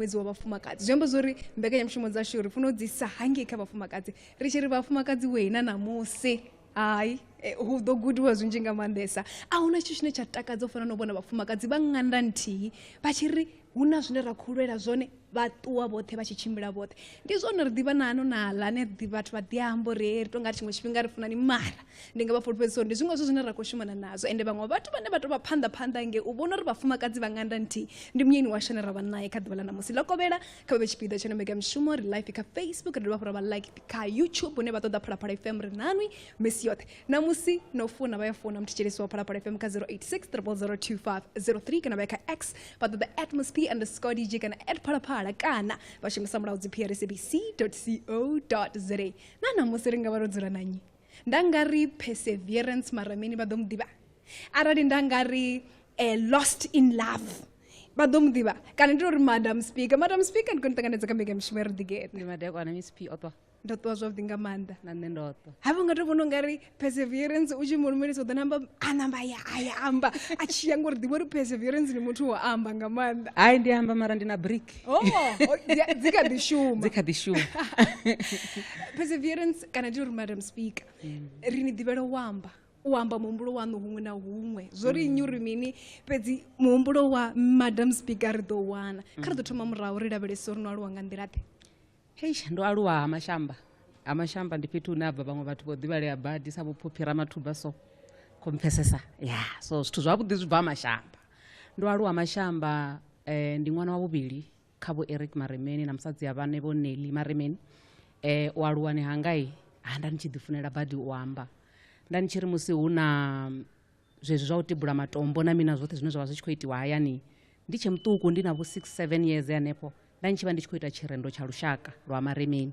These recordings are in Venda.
ṅwedzi wa vhafumakadzi zwi amba zwori mbekanyamushumo dzashu ri funa u dzi sa hangei kha vhafumakadzi ri tshi ri vhafumakadzi wei na ṋamusi hai eh, hu ḓo gudiwa zwinzhi nga maanḓesa a huna tshithu tshine tsha takadza u fana na u vhona vhafumakadzi vha ṅanda nthihi vha tshi ri hu na zwine ra khou lwela zwone vha ṱuwa vhoṱhe vha tshi tshimbila vhoṱhe ndi zwone ri ḓivha na ano na ḽa ne ḓi- vhathu vha ḓi amba uri "Hey, ri tou nga ri tshiṅwe tshifhinga ri funani mara ndi nga vha fhulufhedzisa uri ndi zwiṅwe zwo zwine ra khou shumana nazwo ende vhaṅwe vhathu vhane vha tou vha phanḓa phanḓa nge u vhona uri vhafumakadzi vha nganda nthihi ndi munyeni washu ane ra vha naye kha ḓuvha ḽa ṋamusi ḽo kovhela kha vhe tshipiḓa tsho no mbekanyamushumo ri life kha facebook ri dovha fhura vha like kha youtube hune vha ṱoḓa phalaphala fm ri nanwi misi yoṱhe ṋamusi no funa vha ya funa muthetshelesi wa phalaphala fm kha 0863002503 kana vha ya kha x vha ṱoḓa atmosp underscore dj kana at phalaphala kana vha shumisa mulaudzi prcbc co za na ṋamusi ri nga vha ro dzula nanyi nda nga ri perseverance mara mini vha ḓo mu ḓivha arali nda nga ri uh, lost in love vha ḓo mu ḓivha kana ndi uri madam speaker madam speaker ndi kho ni ṱanganedza kha mbekanyamushumo ya riḓigete ndi madekwana miss p oṱwa ndo ṱuwa zwavhuḓi nga maanḓa na nṋe ndo ṱwa ha vha nga to vhona ungari perseverance u tshi mu lumelisa u ḓo namba a namba ya a ya amba a tshi ya ngori ḓivha uri perseverance ndi muthu wo amba nga maanḓa hai ndi amba mara ndi na brick oh, oh dzi kha ḓi shuma dzi kha ḓi shuma perseverance kana ndi uri madam speaker mm. ri ni ḓivhela u amba u amba muhumbulo waṋu huṅwe na huṅwe zwo ri nnyi uri mini fhedzi muhumbulo wa madam speaker ri ḓo wana kha ri ḓo thoma murahu ri lavhelese uri no aluwa nga nḓila ḓe hei ndo aluwa ha mashamba ha mashamba ndi fhethu hune ha bva vhaṅwe vhathu vho ḓivhalea badi sa vhophophi ramathuba so khompfesesa ya so zwithu zwavhuḓi zwi bva ha mashamba ndo aluwa mashamba um ndi ṅwana wa vhuvhili kha vho eric maremeni na musadzi ya vhane vho neli maremeni eh, u aluwani hangai ha nda ni tshi ḓifunela badi u amba nda ni tshi ri musi hu na zwezwi zwa u tibula matombo na mina zwoṱhe zwine zwa vha zwi tshi khou itiwa hayani ndi tshe muṱuku ndi na vho 67 years hanefho nda ni tshi vha ndi tshi khou ita tshirendo tsha lushaka lwa maremeni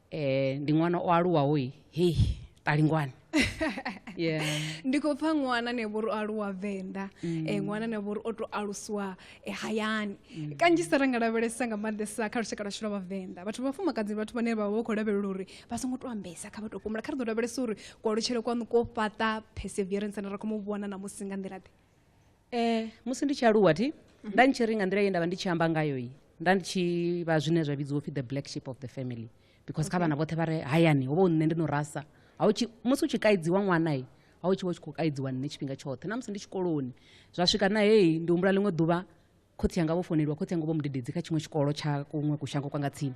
eh ndi ṅwana o aluwaho i hei talingwane yeah ndi khou pfa ṅwana ne vhori o aluwa venḓa mm. eh, ṅwana ne vhori o to alusiwa eh, hayani mm. kanzhisa ra nga lavhelesa nga maanḓesa kha lushaka lwashu lwa vhavenḓa vhathu vhafumakadzi vhathu vhane vha vha vha khou lavhelela uri vha songo to ambesa kha vha to kumula kha ri ḓo lavhelesa uri kualutshele kwanu ko fhaṱa perseverance na ra khou mu vhona na musi nga nḓila ḓe Eh, musi ndi tshi aluwa thi mhm. nda ndi tshi ri nga nḓila ye nda vha ndi tshi amba ngayo yi nda ndi tshi vha zwine zwa vhidziwa upfhi the black sheep of the family because kha vhana vhoṱhe vha re hayani ho vha u nṋe ndi no rasa musi u tshi kaidziwa ṅwana i a u tshi vha u tshi khou kaidziwa nṋe tshifhinga tshoṱhe na musi ndi tshikoloni zwa swika na heyi ndi humbula ḽiṅwe ḓuvha khotsi yanga vho foneliwa khotsi yanga vho mudededzi kha tshiṅwe tshikolo tsha kuṅwe kushango kwa nga tsini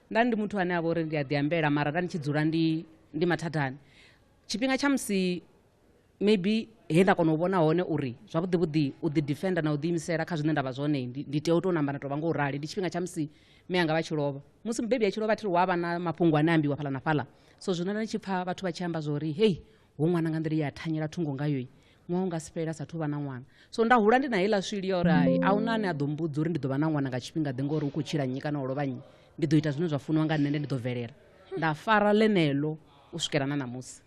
nda ndi muthu ane a vha uri ndi a ḓi ambela mara nda ndi tshi dzula ndi ndi mathathani tshifhinga tsha musi maybe he nda kona u vhona hone uri zwavhuḓi vhuḓi u ḓi defender na u ḓiimisela kha zwine nda vha zwone ndi tea u tou namba na tou vha ngo u rali ndi tshifhinga tsha musi mme anga vha tshi lovha musi mubebi a tshi lovha thi ri wa vha na mafhungo ane ambiwa fhala na fhala so zwino nda ndi tshi pfha vhathu vha tshi amba zwa uri hei ho ṅwana nga nḓila ye a thanyela thungo ngayo ṅwaha unga si fhelela sathu vha na ṅwana so nda hula ndi na heiḽa swili ya uri hai a huna ane a ḓo mbudza uri ndi ḓo vha na ṅwana nga tshifhinga ḓe ngori u khou tshila nnyi kana o lovha nnyi ndi ḓo ita zwine zwa funiwa nga nṋe nde ndi ḓo bvelela nda fara ḽeneḽo u swikela na ṋamusi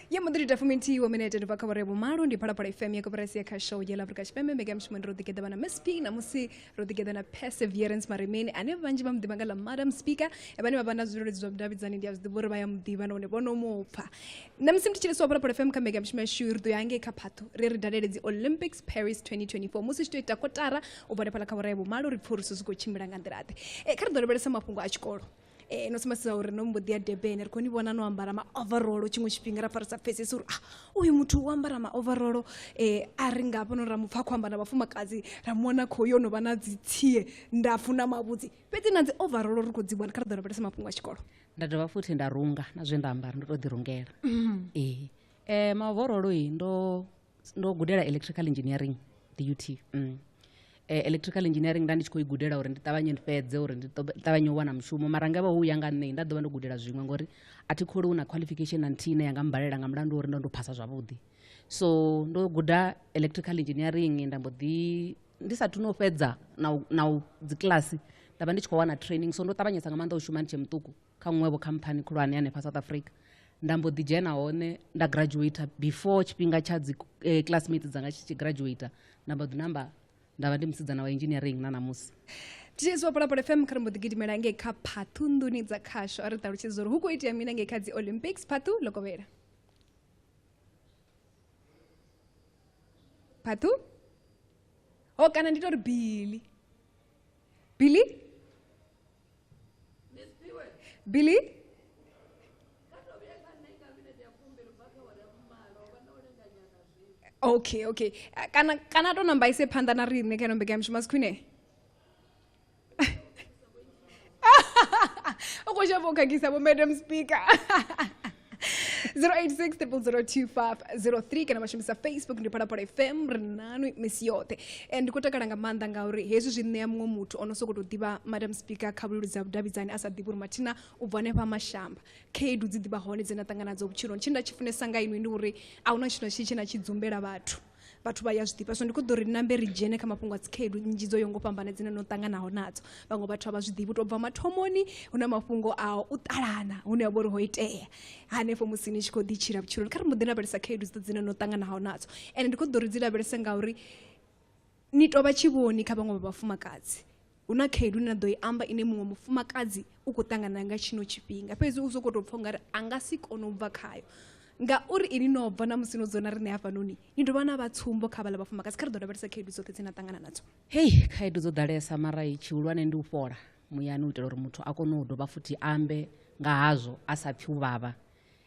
ye mbo ḓi ita fumi nthihi wa minete ndi bva kha vhore vhumalo ndi phalaphala fm ya koporasi ya kha show yela afrika tshipembe mbekamishumo ndi ro ḓigeḓa vha na msp namusi ro ḓigeḓa na perseverance maremeni ane vhanzhi vha muḓivha nga ḽa madam speaker vhane vha vha na zwileludzi zwa vhudavhidzani ndi a zwi ḓivha uri vha ya muḓivha nahone vho no mu pfha na musi ndi thetshelesa wa phalaphala fm kha mbekanyamushumo yashu ri ḓo ya hangei kha phathu ri ri dalele dzi olympics paris 2024 musi tshi tou ita kotara u bva lephala kha vhora ya vhumalo ri pfhe uri zwithu zwi khou tshimbila nga nḓila ḓe e, kha ri ḓo lavhelesa mafhungo a tshikolo Eh, no sumbedzisa uri no mbo ḓi ya durban ri khou ni vhona no ambara maoverolo tshiṅwe tshifhinga ra farisa pfesesi uri ah uyu muthu u ambara maoverolo um a ri nga hafhanoni ra mu pfa khou amba na vhafumakadzi ra mu wana khou yo no vha na dzitsie ndapfu na mavhudzi fhedzi na dzi overolo ri khou dzi wana kha ri ḓo lavhelesa mafhungo a tshikolo nda dovha futhi nda runga na zwe nda ambara ndo tou ḓirungela ee um maovorolo i ndo ndo gudela electrical engineering dut mm. e, electrical engineering nda ndi tshi khou i gudela uri ndi ṱavhanye ndi fhedze uri ndi ṱavhanye u wana mushumo mara nga vha hu ya nga nṋe nda ḓovha ndo gudela zwiṅwe ngori a thi khole hu na qualification na nthihi ine yanga mbalela nga mulandu uri ndo ndo phasa zwavhuḓi so ndo guda electrical engineering nda mbo ḓi ndi sathu no fhedza na u dzi kiḽasi nda vha ndi tshi khou wana training so ndo ṱavhanyesa nga maanḓa u shuma ndi tshe muṱuku kha nṅwevho khamphani khulwane hanefha south africa nda mbo ḓi dzhena hone nda graduator before tshifhinga tsha dzi eh, classmate dzanga tshi tshi graduator nda mbo ḓi namba nda vha ndi musidzana wa engineering na ṋamusi thitshedzi wa polapole fm kha ri mbo ḓi gidimela ngei kha phathu nḓuni dza khasho a ri ṱalutshedza uri hu khou itea mina ngei kha dzi olympics phathu ḽo kovhela phathu o kana ndi tori bili bili billy okay okay ah, kana kana to namba ise phanḓa na riṋe kha ino mbekanyamushumo a si khwine u khou shavha u khakhisa vho madam speaker 0860025003 kana vha shumisa facebook ndi phalaphala fm ri nanu misi yoṱhe and ndi khou takala nga maanḓa ngauri hezwi zwi ṋea muṅwe muthu o no sokou tou ḓivha madam speaker kha vhuleludzi ha vhudavhidzani a sa ḓivhi uri mathina u bva hanefha mashamba khaedu dzi ḓivha hone dze na ṱangana dzo vhutshiloni tshine nda tshi funesa nga inwi ndi uri a hu na tshithu na tshitshi tshine na tshi dzumbela vhathu vhathu vha ya zwi ḓivha so ndi kho ḓo ri nambe ri dzhene kha mafhungo a dzikhaedu nnzhi dzo yo ngo fhambana dzine no ṱanganaho nadzo vhaṅwe vhathu a vha zwi ḓivhi u tou bva mathomoni hu na mafhungo a u ṱalana hune ha vha uri ho itea hanefho musi ni tshi khou ḓi tshila vhutshiloni kha ri mbo ḓi lavhelesa khaedu dzi dzine no ṱanganaho nadzo ende ndi kho ḓo ri dzi lavhelese ngauri ni tovha tshivhoni kha vhaṅwe vha vhafumakadzi hu na khaedu ine na ḓo i amba ine muṅwe mufumakadzi u khou ṱangana nga tshino tshifhinga fhedzi u sokou tou pfha ungari a nga si kone u bva khayo ngauri ini no bva na musi no dzona riṋe hafhanoni ni dovha na vha tsumbo kha vhala vhafumakadzi kha ri ḓo lavhelesa khaedu dzoṱhe dze na ṱangana nadzo hei khaedu dzo ḓalesa mara tshihulwane ndi u fhola muyani u itela uri muthu a kone u dovha futhi ambe nga hazwo a sa pfhi u vhavha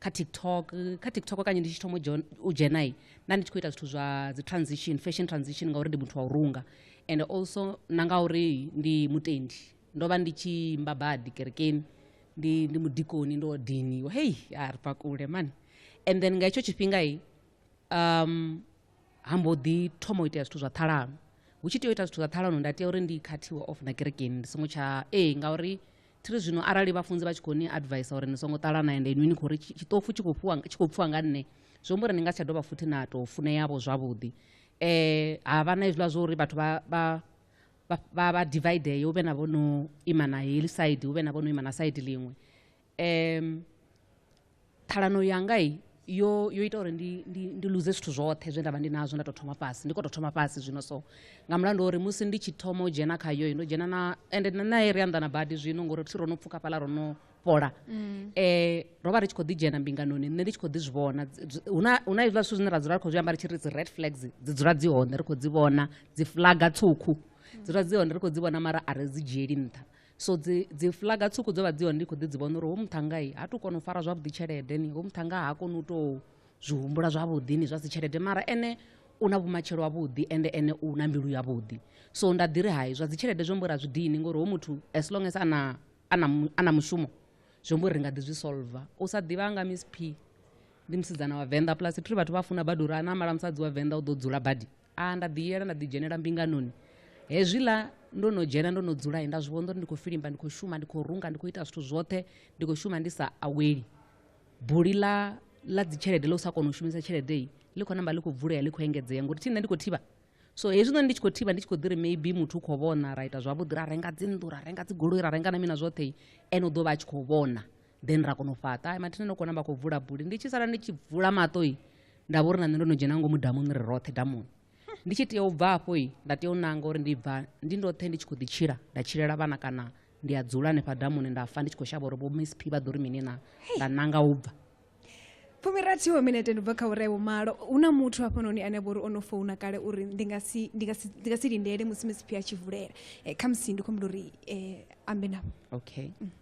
kha tiktok kha tiktok kanye ndi tshi thoma u dzhenai nda ndi tshi khou ita zwithu zwa dzi transition fashion transition ngauri ndi muthu wa u runga and also na ngauri ndi mutendi ndo vha ndi tshi imba badi kerekeni ndi ndi mudikoni ndo diniwa hei a ri pakule mani and then nga hetsho tshifhingai um ha mbo ḓi thoma u itea zwithu zwa ṱhalano hu tshi tea u ita zwithu zwa ṱhalano nda tea uri ndi khathiwe off na kerekeni ndi songo tsha ee ngauri thiri zwino arali vhafunzi vha tshi khou ni advisa uri ni songo ṱalana ende inwi ni khou ri tshiṱofu tshi khou pfhiwa nga nṋe zwi amba uri ni nga si tsha dovha futhi na tou funeavho zwavhuḓi um ha vha na hezwiḽa zwa uri vhathu vha vha vha vha dividee hu vhe na vho no ima na heḽi side hu vhe na vho no ima na side ḽiṅwe um ṱhalano yanga i yo yo ita uri ndi ndi ndi luze zwithu zwoṱhe zwe nda vha ndi nazwo nda tou thoma fhasi ndi khou tou thoma fhasi zwino so nga mulandu uri musi ndi tshi thoma u dzhena khayo ndo dzhena na ende na naye ri anḓana badi zwino ngori thi ro no pfuka fhaḽa ro no fhola um ro vha ri tshi khou ḓi dzhena mbinganoni nṋe ndi tshi khou ḓi zwi vhona hu na hu na hezwiḽa zwithu zwine ra dzula ri khou zwi amba ri tshi ri dzi red flags dzi dzula dzi hone ri khou dzi vhona dzi flaga tswukhu dzi dzula dzi hone ri khou dzi vhona mara a ri dzi dzhieli nṱha so dzi dzi flaga tswuku dzo vha dzi hone ndi khou ḓi dzi vhona uri ho muthangai ha tu kona u fara zwavhuḓi tshelede ni ho muthanga ha koni u tou zwi humbula zwavhuḓi ni zwa si tshelede mara ene u na vhumatshelo wavhuḓi ende ene u na mbilu yavhuḓi so nda ḓi ri hai zwa dzi tshelede zwo mbo ra zwi dini ngori ho muthu as long as ana ana ana mushumo zwo mbo ri nga ḓi zwi solver u sa ḓivha nga miss p ndi musidzana wa venḓa plus thuri vhathu vha funa badi uri ana mala musadzi wa venḓa u ḓo dzula badi a nda ḓi yela nda ḓi dzhenela mbinganoni hezwiḽa ndo no dzhena ndo no dzula nda zwi vhona uri ndi khou filimba ndi khou shuma ndi khou runga ndi khou ita zwithu zwoṱhe ndi khou shuma ndi sa aweli buli ḽa ḽa dzitshelede ḽa u sa kona u shumisa tshelede iyi ḽi khou namba ḽi khou vulea ḽi khou engedzea ngori thi nṋe ndi khou thivha so hezwi noni ndi tshi khou thivha ndi tshi khou ḓi ri maybe muthu u khou vhona ra ita zwavhuḓi ra renga dzinnḓu ra renga dzigoloi ra renga na mina zwoṱhe ene u ḓo vha a tshi khou vhona then ra kona u fhaṱa ai mathina no kona vha khou vula buli ndi tshi sala ndi tshi vula maṱoi nda vha uri na nṋe ndo no dzhena ngomu damuni ri roṱhe damuni ndi tshi tea u bva afho i nda tea u nanga uri ndi bva ndi ndoṱhe ndi tshi khou ḓi tshila nda tshilela vhana kana ndi a dzula hanefha damuni nda fa ndi tshi khou shavha uri vho miss p vha ḓo ri mini na nda nanga u bva fumirathi wa minete ndi bva kha uri vho malo hu na muthu hafhanoni ane vha uri o no founa kale uri ndi nga si ndi nga si ndi nga si lindele musi miss p a tshi vulela Eh, khamusi ndi khou humbula uri eh, ambe navho okay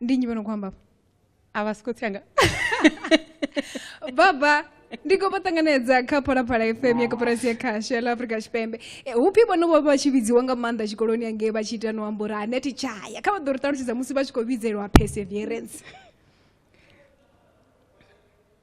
ndi nyi vho no khou amba a vha siko tsanga baba ndi khou vha ṱanganedza kha phalaphala fm ya koporasi ya khasho ya la afrika tshipembe E, hupfi vhono vho vha tshi vhidziwa nga maanḓa tshikoloni angei vha tshi ita no amba uri aneti tshaya kha vha ḓo ri ṱalutshedza musi vha tshi khou vhidzelwa perseverance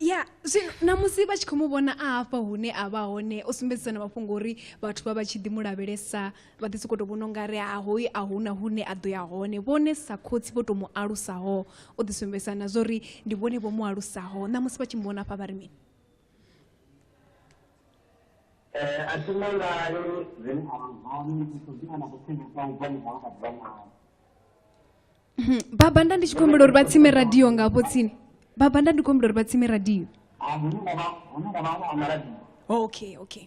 ya zwino na musi vha tshi khou mu vhona a hafha hune a vha hone o sumbedzisa na mafhungo uri vhathu vha vha tshi ḓi mu lavhelesa vha ḓi sokou tou vhona unga ri ha hoyu a huna hune a ḓo ya hone vhone sa khotsi vho tou mu alusaho o ḓi sumbedzisa na zwa uri ndi vhone vho mu alusaho na musi vha tshi mu vhona hafha vha ri mini Eh, a thi mangale zwine a vha zwone ndi khou ḓivha na kuthengo kwa u bva murahu nga ḓuvha naho Mhm. baba nda ndi tshi khou humbela uri vha tsime radio nga hafho tsini baba nda ndi khou humbela uri vha tsime radio okay okay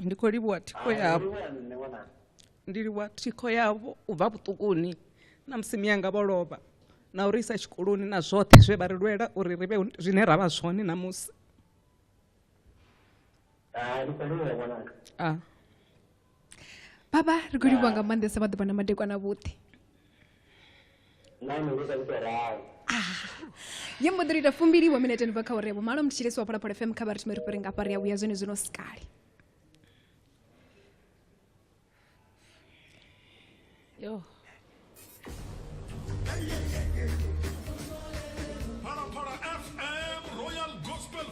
ndi khou livhuwa thikho yavho ndi livhuwa thikho yavho u bva vhuṱukuni na musi miyanga vho lovha na uri isa tshikoloni na zwoṱhe zwe vha ri lwela uri ri vhe zwine ra vha zwone ṋamusi baba ri khou livhuwa nga maanḓesa vhaḓuvha na madekwana vhuḓi nami ndi sa ndi tou ralo ye mbo ḓi ri ita fumbili wa minete ni bva kha uri ya vhumalo mthetshelesi wa phalaphala fm kha vhari thimeri fhuri nga pari ya vhuya zwone zwino sikali yo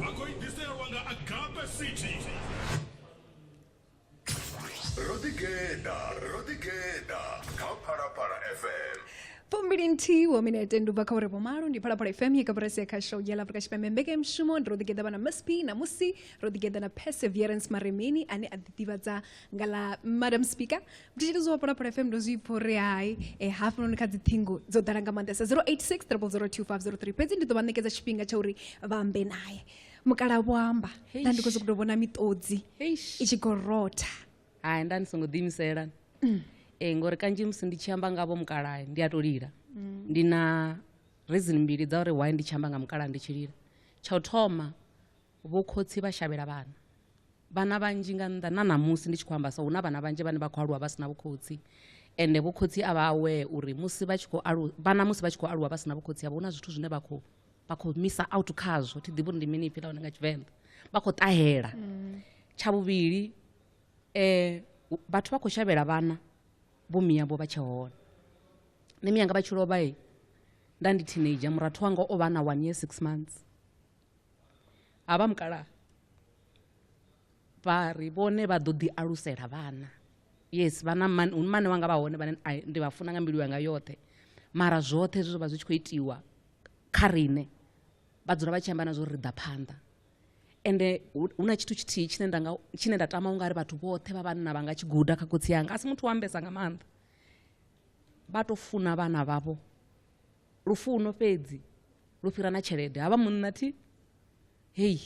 vha khou i ḓiselwa nga agape city ro ḓigeḓa ro ḓigeḓa kha phalaphala fm fumbili nthihi wa minete ndi ubva kha uri vhomalo ndi phalaphala fm ye kaburasi ya kha show ya afrika tshipembe mbekanyamushumo ndi ro ḓigeḓa vha na msp namusi ro ḓigeḓa na perseverance maremeni ane a ḓiḓivhadza nga ḽa madam speaker ndi tshi lidziwa phalaphala fm ndo zwi pfha uri hai um eh, hafhanoni kha dzi ṱhingo dzo ḓala nga maanḓesa 086 002503 fhedzi ndi ḓo vha ṋekedza tshifhinga tsha uri vha ambe naye mukala vho amba nda ndi khou sokou tou vhona miṱodzi i tshi khou rotha hai nda ndi songo ḓiimisela mm. e ngori kanzhi musi ndi tshi amba ngavho mukalayo ndi a tou lila mm. ndi na reason mbili dza uri why ndi tshi amba nga mukalayo ndi tshi lila tsha u thoma Vhokhotsi vha shavhela vhana vhana vhanzhi nga nnḓa na ṋamusi ndi tshi khou amba so hu na vhana vhanzhi vhane vha khou aluwa vha si na vhukhotsi ende vhokhotsi a vha aware uri musi vha tshi khou alu vhana musi vha tshi khou aluwa vha si na vhokhotsi havho hu na zwithu zwine vha khou vha khou misa out khazwo thi ḓivhi uri ndi mini ipfhi ḽa hone nga tshivenḓa vha khou ṱahela tsha vhuvhili um vhathu vha khou shavhela vhana vho miyavho vha tshe hone nṋe miyanga vha tshi lovha nda ndi teenager murathu wanga o vha na one year six months ha vha mukalaha vha ri vhone vha ḓo ḓi alusela vhana yes vhana mani hu mane vha nga vha hone vhane ai, ndi vha funa nga mbilu yanga yoṱhe mara zwoṱhe zwe zwa vha zwi tshi khou itiwa kha riṋe vha dzula vha tshi amba na zwo ri ḓa phanḓa ende hu hu na tshithu tshithihi tshine nda nga tshine nda tama ungari vhathu vhoṱhe vha vhanna vha nga tshi guda kha khotsi yanga a si muthu wa ambesa nga maanḓa vha to funa vhana vhavho lufuno fhedzi lu fhira na tshelede havha munna thi hei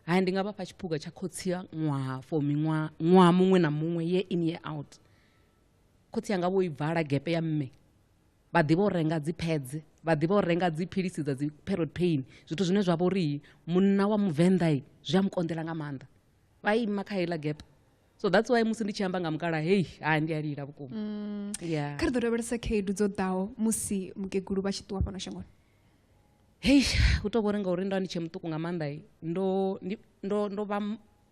haya ndi nga vhafha tshiphuga tsha khotsi ya ṅwaha for miṅwaha ṅwaha muṅwe na muṅwe ye in ye out khotsi yanga vho i bvala gepe ya mme vha ḓivha u renga dzi phedze vha ḓivha u renga dzi philisi dza dzi period pain zwithu zwine zwa vha uri munna wa muvenḓa zwi a mu konḓela nga maanḓa vha ima kha heiḽa gepe so that's why musi ndi tshi amba nga mukala hei ha ndi a lila vhukuma mm. yeah. kha ri ḓo lavhelesa khaedu dzo ḓaho musi mukegulu vha tshi ṱuwa fhano shangoni hei hu tou vhori ngauri ndo ndi tshe muṱuku nga maanḓa ndo ndo ndo vha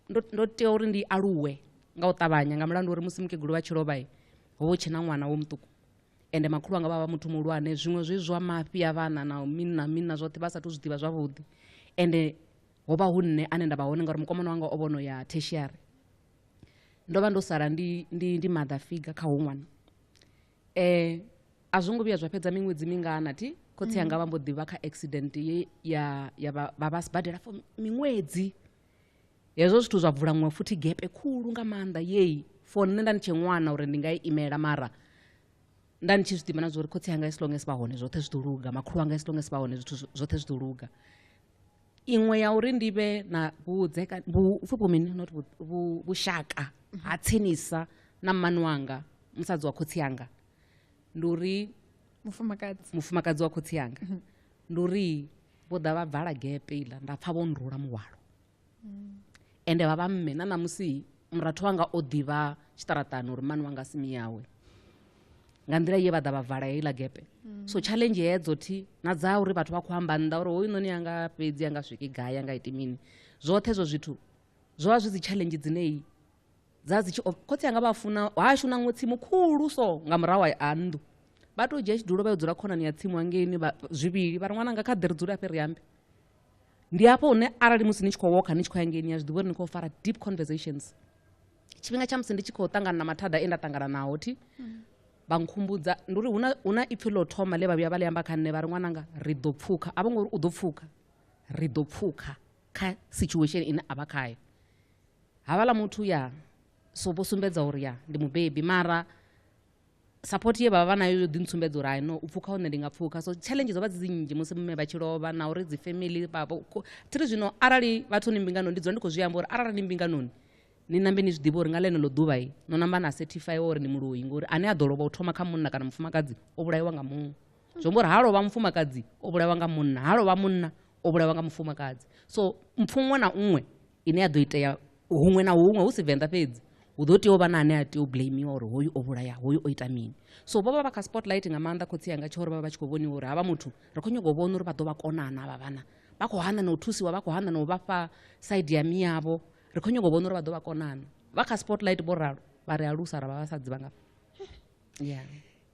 ndo tea uri ndi aluwe nga u ṱavhanya nga mulandu uri musi mukegulu vha tshi lovha ho vha tshena ṅwana wo muṱuku ende makhulu anga vha vha muthu muhulwane zwiṅwe zwi zwa mafhi a vhana na mini na mini na zwoṱhe vha sathu zwi ḓivha zwavhuḓi ende ho vha hu nṋe ane nda vha hone ngauri mukomana wanga o vhono ya tertiary ndo vha ndo sala ndi, ndi, ndi mother figure kha hu ṅwana eh, a zwo ngo vhuya zwa fhedza miṅwedzi mingana ti khotsi anga vha mbo ḓivha kha accident ye ya, ya vha vha vha sibadela for miṅwedzi hezwo zwithu zwa bvula ṅwe futhi gepe khulu nga maanḓa yeyi for nṋe nda ni tshe ṅwana uri ndi nga i imela mara nda ni tshi zwi ḓivha na zwa uri khotsi anga as long as vha hone zwoṱhe zwi ḓo luga makhulu anga as long as vha hone zwithu zwo- zwoṱhe zwi ḓo luga iṅwe ya uri ndi vhe na vhudzekani vhupfhi vhu mini not vhushaka ha tsinisa na mmani wanga musadzi wa khotsi yanga ndi uri mufumakadzi mufumakadzi wa khotsi yanga mhm. ndi uri vho ḓa vha bvala gepe iḽa nda pfha vho nrula muhwalo ende vha vha mme na ṋamusi murathu wanga o ḓivha tshiṱaraṱani uri mani wanga simi yawe nga nḓila ye vha ḓa vha vala heiḽa gepe mm. so challenge hedzo thi na dza uri vhathu vha khou amba nnḓa uri hoyu noni anga fhedzi anga swiki gai anga iti mini zwoṱhe zwo zwithu zwo vha zwi dzi challenge dzineyi dza dzi tshi khotsi anga vha funa hashu na ṅwe tsimu khulu so nga murahu a nnḓu vha tou dzhia tshidulo vha yo dzula khonani ya tsimu hangeini zwivhili vha ri ṅwananga kha ḓi ri dzule afhe ri ambe ndi hafho hune arali musi ni tshi khou woka ni tshi khou ya ngei ni ya zwiḓivha uri ni khou fara deep conversations tshifhinga tsha musi ndi tshi khou ṱangana na mathada e nda ṱangana naho thi vha nkhumbudza ndi uri hu na ipfhi ḽo thoma ḽe vha vhuya vha ḽi amba kha nṋe vha ri ṅwananga ri ḓo pfukha a vho ngori u ḓo pfukha ri ḓo pfukha kha situation ine a vha khayo havhaḽa muthu ya so vho sumbedza uri ya ndi mubebi mara support ye vha vha vha nayo yo ḓi ntsumbedza uri no u pfukha hone ndi nga pfukha so challenge dzo vha dzi nnzhi musi mme vha tshi lovha na uri dzi family vhavho thiri zwino arali vhathu ni mbinganoni ndi dzula ndi khou zwi amba uri arali ni mbinganoni ni nambe ni zwi ḓivha uri nga ḽeneḽo ḓuvha i no namba na certify uri ni muloyi ngori ane a ḓo lovha u thoma kha munna kana mufumakadzi o vhulaiwa nga muṅwe zwi amba uri ha lovha mufumakadzi o vhulaiwa nga munna ha lovha munna o vhulaiwa nga mufumakadzi so mpfu ṅwe na ṅwe ine ya ḓo itea huṅwe na huṅwe hu si venḓa fhedzi hu ḓo tea u vha na ane a tea u blamiwa uri hoyu o vhulaya hoyu o ita mini so vho vha vha kha spotlight nga maanḓa khotsi yanga tsho uri vha vha vha tshi khou vhoniwa uri havha muthu ri khou nyanga u vhona uri vha ḓo vha konana avha vhana vha khou hana na u thusiwa vha khou hana na u vha fha side ya miyavho ri khou nyanga u vhona uri vha ḓo vha konana vha kha spotlight vho ralo vha ri alusa ra vha vha sa dzivha nga yeah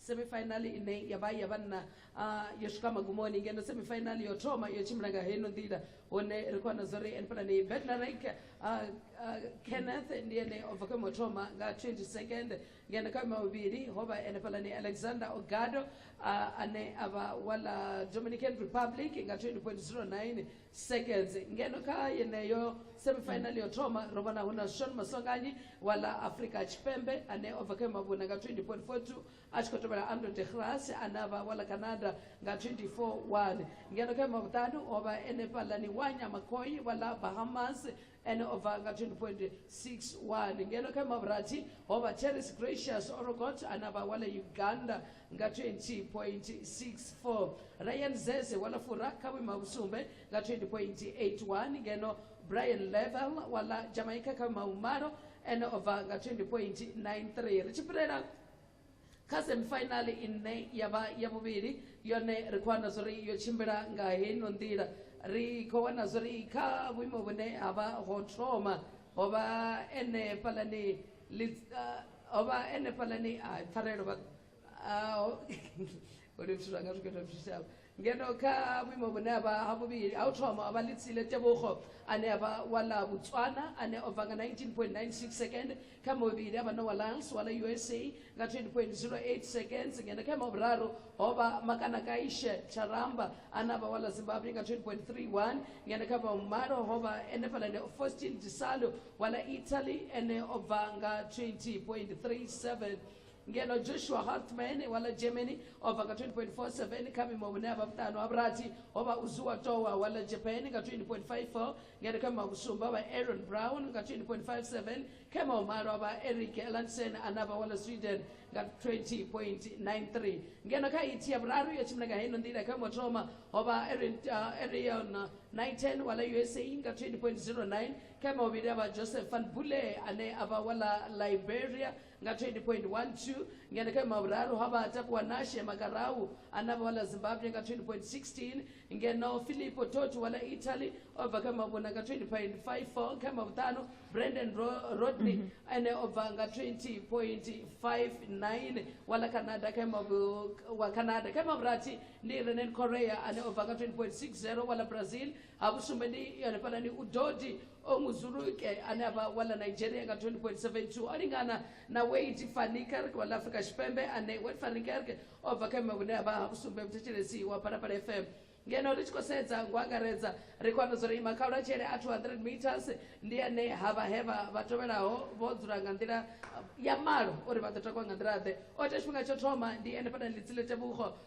semifinal ine ya vha ya vhanna ah, yo swika magumoni ngeno semifinal yo thoma yo tshimbila nga heino nḓila hone ri khou wana zwa uri enpelani bedlarik kenneth ndi ene o bva khoimo thoma nga 20 second ngeno kha ima vhuvhili ho vha ene pelani alexander ogado ah, ane a vha wa la dominican republic nga 20.09 seconds ngeno kha yeneyo semifinal yo thoma ro vhona hu na shon maswanganyi wa ḽa afrika tshipembe ane o bva kha mavhuna nga 20.42 a tshi khou tevhela ando de gras ane a vha wa ḽa canada nga 24.1 ngeno kha mavhuṱanu o vha ene fhaḽani wa nyamakhoi wa ḽa bahamas ene o bva nga 20.61 ngeno kha mavhurathi ho vha terris gracious orogot ana vha wale uganda nga 20.64 ryan zeze wala fura kha vhuima vhusumbe nga 20.81 ngeno brian level wala jamaica kha vhuima vhumalo ene o bva nga 20.93 ri tshi fhirela kha semifinal ine ya vha ya vhuvhili yone ri khou wana zwori yo tshimbila nga heino nḓila ri khou wana zwori kha vhuimo vhune ha vha ho thoma ho vha ene fhalani ho vha ene fhalani a pfarelo vha uri zwithu zwanga zwi khethwa zwitshitshavha ngeno kha vhuimo vhune ha vha ha vhuvhili ha u thoma a vha litsile tebogo ane a vha wa ḽa botswana ane o bva nga 19.96 second kha muvhili a vha na wa lans wa ḽa usa nga 20.08 seconds ngeno kha ima vhuraru ho vha makanakaishe charamba ane a vha wa ḽa zimbabwe nga 20.31 ngeno kha vha vhumalo ho vha enefhala ne faustin disalo wa ḽa italy ene o bva nga 20.37 ngeno joshua hartman wa ḽa germany o bva nga 20.47 kha vhuimo vhune a vha vhuṱanu ha vhurathi ho vha uzuwa towa wa ḽa japan nga 20.54 ngeno kha mavhusumba vha aaron brown nga 20.57 kha maumalo vha eric elansen ane a vha wa ḽa sweden nga 20.93 ngeno kha ithi ya vhuraru yo tshimbila nga heino nḓila kha mothoma ho vha arion uh, niten wa ḽa usa nga 20.09 kha mavhili a vha joseph van bule ane a vha wa ḽa liberia nga 20.12 ngeno kha mavhuraru ha vha takuwa nashe makarau ana vha wala zimbabwe nga 20.16 ngeno filipo toti wala italy o bva kha mavhuna nga 20.54 kha mavhuṱanu brandon Ro- rodney ene o bva nga 20.59 wala canada kha mavu wa canada kha mavhurathi ndi renen korea ane o bva nga 20.60 wala brazil ha vhusumbe ndi yone fhanani udodi o muzuluke ane a vha wa ḽa nigeria nga 20.72 o lingana na wade fanikerk wa ḽa afrika tshipembe ane wade fanikerk o bva kha vhume vhune ha vha ha vhusumbe muthetshelesi wa phalaphala fm ngeno ri tshi khou sedza ngo angaredza ri khou amba zwo ri ima kha lwatshele a 200 meters ndi ane ha vha he vha vha tovhelaho vho dzula nga nḓila ya malo uri vha ḓo takuwa nga nḓila ḓe o ita tshifhinga tsho thoma ndi ene fhana litsi ḽe tevhugo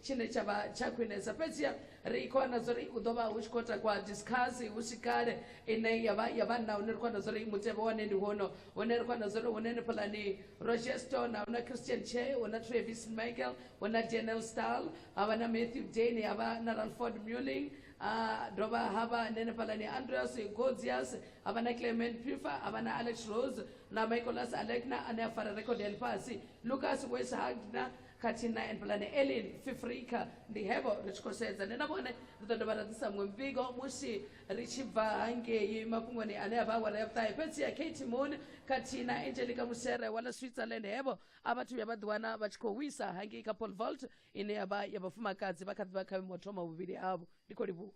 tshine tsha vha tsha khwinesa fhedziha ri khou wana zwo ri u ḓo vha hu tshi khou takwa discuss hu si kale ine ya vha ya vhanna hune ri khou wana zwo ri mutevhe wane ndi hono hune ri khou wana zwo ri hune ni phalani roger stone hu na christian che hu na travis michael hu na daniel stal ha vha na matthew dane ha vha na ralford muling ha dovha ha vha nene phalani andreas godzias ha vha na clement pifa ha vha na alex rose na michaelas alekna ane a fara record ya lifhasi lucas wes hagna khathihi na Enblane Elin Fifrika ndi hevho ri tshi khou sedza ndi na vhone ri ḓo dovha ra ḓisa muṅwe muvhigo musi ri tshi bva hangei mafhungoni ane a vha awara ya vhuṱahe fhedzi ya Kate Moon khathihi na Angelica Musere wa ḽa Switzerland hevho a vhathu vhuya vha ḓiwana vha tshi khou wisa hangei kha pole vault ine ya vha ya vhafumakadzi vha kha ḓi vha kha vhuimo thoma vhuvhili havho ndi khou livhuwa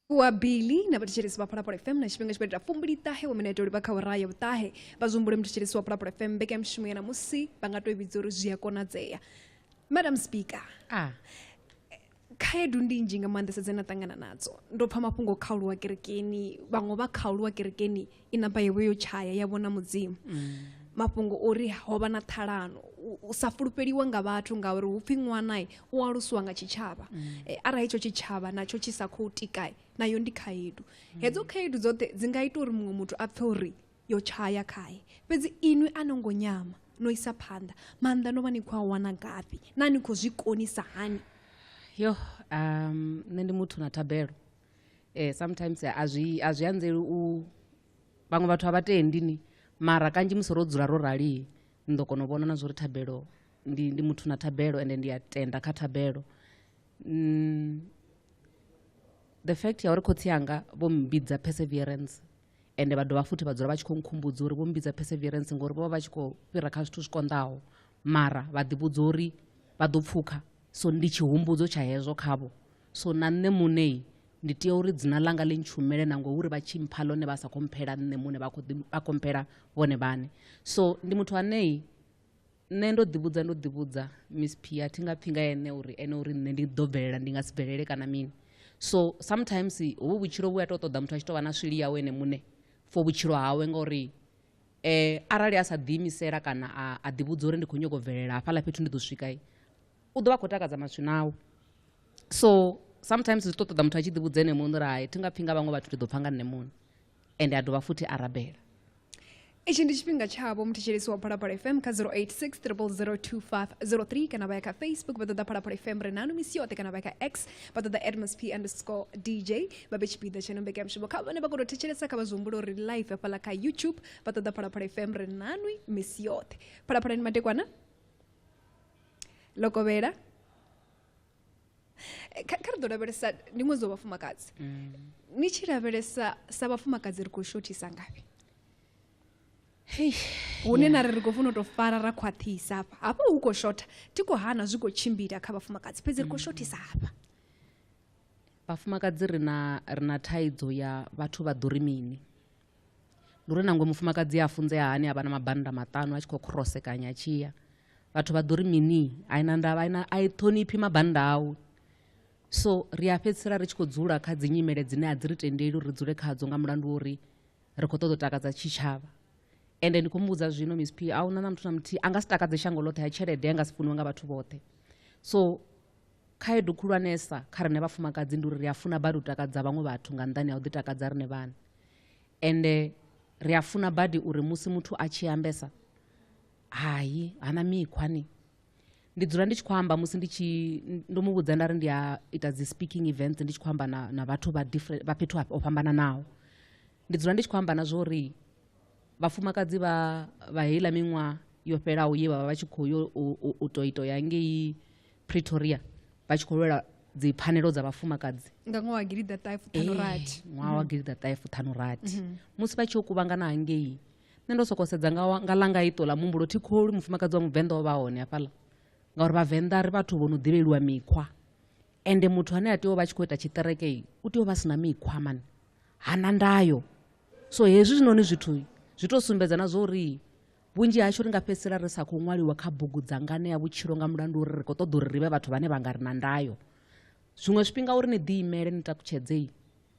wa bili na vhathetshelesi vha phalaphala fm na tshifhinga tshi khou itela fumbili ṱahe wa minete uri vha kha uraha ya vhuṱahe vha zwihumbule muthetshelesi wa phalaphala fm mbekanyamushumo ya namusi vha nga tou i vhidza uri zwi a konadzea madam speaker ah. khaedu ndi nnzhi nga maanḓesa dze na ṱangana nadzo ndo pfha mafhungo kha uluwa kerekeni vhaṅwe vha kha uluwa kerekeni i namba yewe yo tshaya ya vhona mudzimu mafhungo ori ho vha na ṱhalano u sa fulufheliwa nga vhathu ngauri hu pfhi ṅwana u alusiwa nga tshitshavha eh, arali hetsho tshitshavha natsho tshi sa khou tika nayo ndi khaedu hedzo khaedu dzoṱhe dzi nga ita uri muṅwe muthu a pfhe uri yo tshaya khae fhedzi inwi a no ngo nyama no isa phanḓa maanḓa no vha ni khou a wana ngafhi na ni khou zwi konisa hani yo um, nṋe ndi muthu na thabelo eh, sometimes a zwi a zwi anzeli u vhaṅwe vhathu a vha tendi ni mara kanzhi musi ro dzula ro rali ni ḓo kona u vhona na zwa uri thabelo ndi, ndi muthu na thabelo ende ndi a tenda kha thabelo mm, the fact ya uri khotsi anga vho mbidza perseverance ende vha dovha futhi vha dzula vha tshi khou nkhumbudza uri vho mbidza perseverance ngori vho vha vha tshi khou fhira kha zwithu zwi konḓaho mara vha ḓivhudza uri vha ḓo pfukha so ndi tshihumbudzo tsha hezwo khavho so na nṋe muṋe ndi tea uri dzina ḽanga ḽi ntshumele na ngouri vha tshi mpha ḽone vha sa khou mphela nṋe muṋe vha khou ḓi- vha khou mphela vhone vhaṋe so ndi muthu anei nṋe ndo ḓivhudza ndo ḓivhudza miss p a thi nga pfhi nga ene uri ene uri nṋe ndi ḓo bvelela ndi nga si bvelele kana mini so sometimes hovhu vhutshilo vhu a tou ṱoḓa muthu a tshi tou vha na swili yawe ene muṋe for vhutshilo hawe ngauri eh arali a sa ḓiimisela kana a a ḓivhudza uri ndi khou nyoko bvelela hafhaḽa fhethu ndi ḓo swika i u ḓo vha khou takadza maswina awu so sometimes zwi ṱoḓa muthu a tshi ḓivhudza ene muṋe uri hai thi nga pfhi nga vhaṅwe vhathu ndi ḓo pfha nga nṋe muṋe ende a dovha futhi a rabela itshi ndi tshifhinga tshavho muthetshelesi wa phalaphala fm kha 0860002503 kana vha ya kha facebook vha ṱoḓa phalaphala fm ri nanu misi yoṱhe kana vha ya kha x vha ṱoḓa edmsp underscore dj vha vhe tshipiḓa tsha nombeke ya mushumo kha vhane vha kono thetshelesa kha vha zwihumbula uri live hafhaḽa kha youtube vha ṱoḓa phalaphala fm ri nanwi misi yoṱhe phalaphalani madekwana ḽo kovhela eh, kha ri ḓo lavhelesa ndi ṅwedzi wa vhafumakadzi mm. ni tshi lavhelesa sa vhafumakadzi ri khou shothisa ngafhi hune na ri ri khou funa u tou fara ra khwaṱhisa hafha hafha hu khou shotha thi khou hana zwi khou tshimbila kha vhafumakadzi fhedzi ri khou mm. shothisa hafha vhafumakadzi ri na ri na thaidzo ya vhathu vha ḓo ri mini ndi uri nangwe mufumakadzi a funzea hani a vha na mabannda maṱanu a tshi khou khorosekanya tshiya vhathu vha ḓo ri mini a ina ndavha ina a i ṱhoniphi mabannda awu so ri a fhedzisela ri tshi khou dzula kha dzi nyimele dzine a dzi ri tendeli uri ri dzule khadzo nga mulandu wa uri ri khou ṱoḓa u takadza tshitshavha ende ndi khou mu vhudza zwino miss p a huna na muthu na muthihi a nga si takadze shango ḽoṱhe ya tshelede a nga si funiwe nga vhathu vhoṱhe so khaedu khulwanesa kha rine vhafumakadzi ndi uri ri a funa badi u takadza vhaṅwe vhathu nga nḓani ya u ḓitakadza rine vhana ende ri a funa badi uri musi muthu a tshi ambesa hai hana mikhwa ni ndi dzula ndi tshi khou amba musi ndi tshi ndo mu vhudza nda ri ndi a ita dzi speaking events ndi tshi khou amba na, na vhathu vha different vha fhethu ho fhambananaho ndi dzula ndi tshi khou amba na zwo uri vhafumakadzi vha vha heiḽa miṅwaha yo fhelaho ye vha vha vha tshi khou yo u- u- u to ito ya ngei pretoria vha tshi khou lwela dzi pfanelo dza vhafumakadzi nga ṅwaha wa gilida ṱahe fuṱhanu rathi eh, ṅwaha wa mhm. gilida ṱahe fuṱhanu rathi mhm. musi vha tshi yo kuvhangana hangei nṋe ndo soko sedza nga langa ito ḽa muhumbulo thi kholi mufumakadzi wa muvenḓa o vha hone hafhaḽa ngauri vhavenḓa ri vhathu vho no ḓivheliwa mikhwa ende muthu ane a tea u vha tshi khou ita tshiṱerekei u tea u vha si na mikhwa mani hana ndayo so hezwi zwinoni zwithu zwi tou sumbedza na zwo uri Vhunzhi hashu ri nga fhedzisela ri sa khou ṅwaliwa kha bugu dza ngane ya vhutshilo nga mulandu uri ri khou ṱoḓa uri ri vhe vhathu vhane vha nga ri na ndayo. Zwiṅwe zwifhinga uri ni ḓiimele ni takutshedzei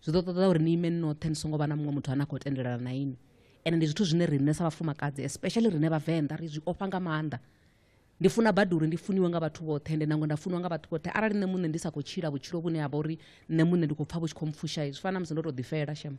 zwi ḓo ṱoḓa uri ni ime ni noṱhe ni songo vha na muṅwe muthu ane a khou tendelana na ini ende ndi zwithu zwine riṋe sa vhafumakadzi especially riṋe vhavenḓa ri zwi ofha nga maanḓa ndi funa badi uri ndi funiwe nga vhathu vhoṱhe ende nangwe nda funiwa nga vhathu vhoṱhe arali nṋe muṋe ndi sa khou tshila vhutshilo vhune ha vha uri nṋe muṋe ndi khou pfha vhu tshi khou mpfusha zwi fana na musi ndo tou ḓifela shema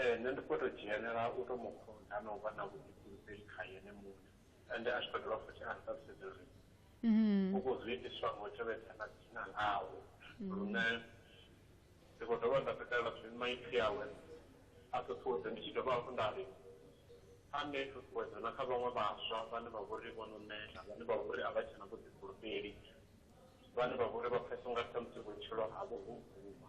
Ee, nṋe ndi khou tou dzhienela u tou mu kunda na u vha na vhuḓifulufheli khae ene muṋe. Ende a tshi khou dovha futhi a ri ṱalutshedza uri uvho zwi itiswa nga u tevhedza na dzina ḽawe. Lune ndi khou dovha nda takalela zwi maipfi awe a ṱuṱuwedza ndi tshi dovha hafhu nda ri a ṋee ṱhuṱhuwedzo na kha vhaṅwe vhaswa vhane vha vho ri vho no neta, vhane vha vho ri a vha tshe na vhuḓifulufheli, vhane vha vho ri vha pfesesa u nga ri khamusi vhutshilo havho ho guma.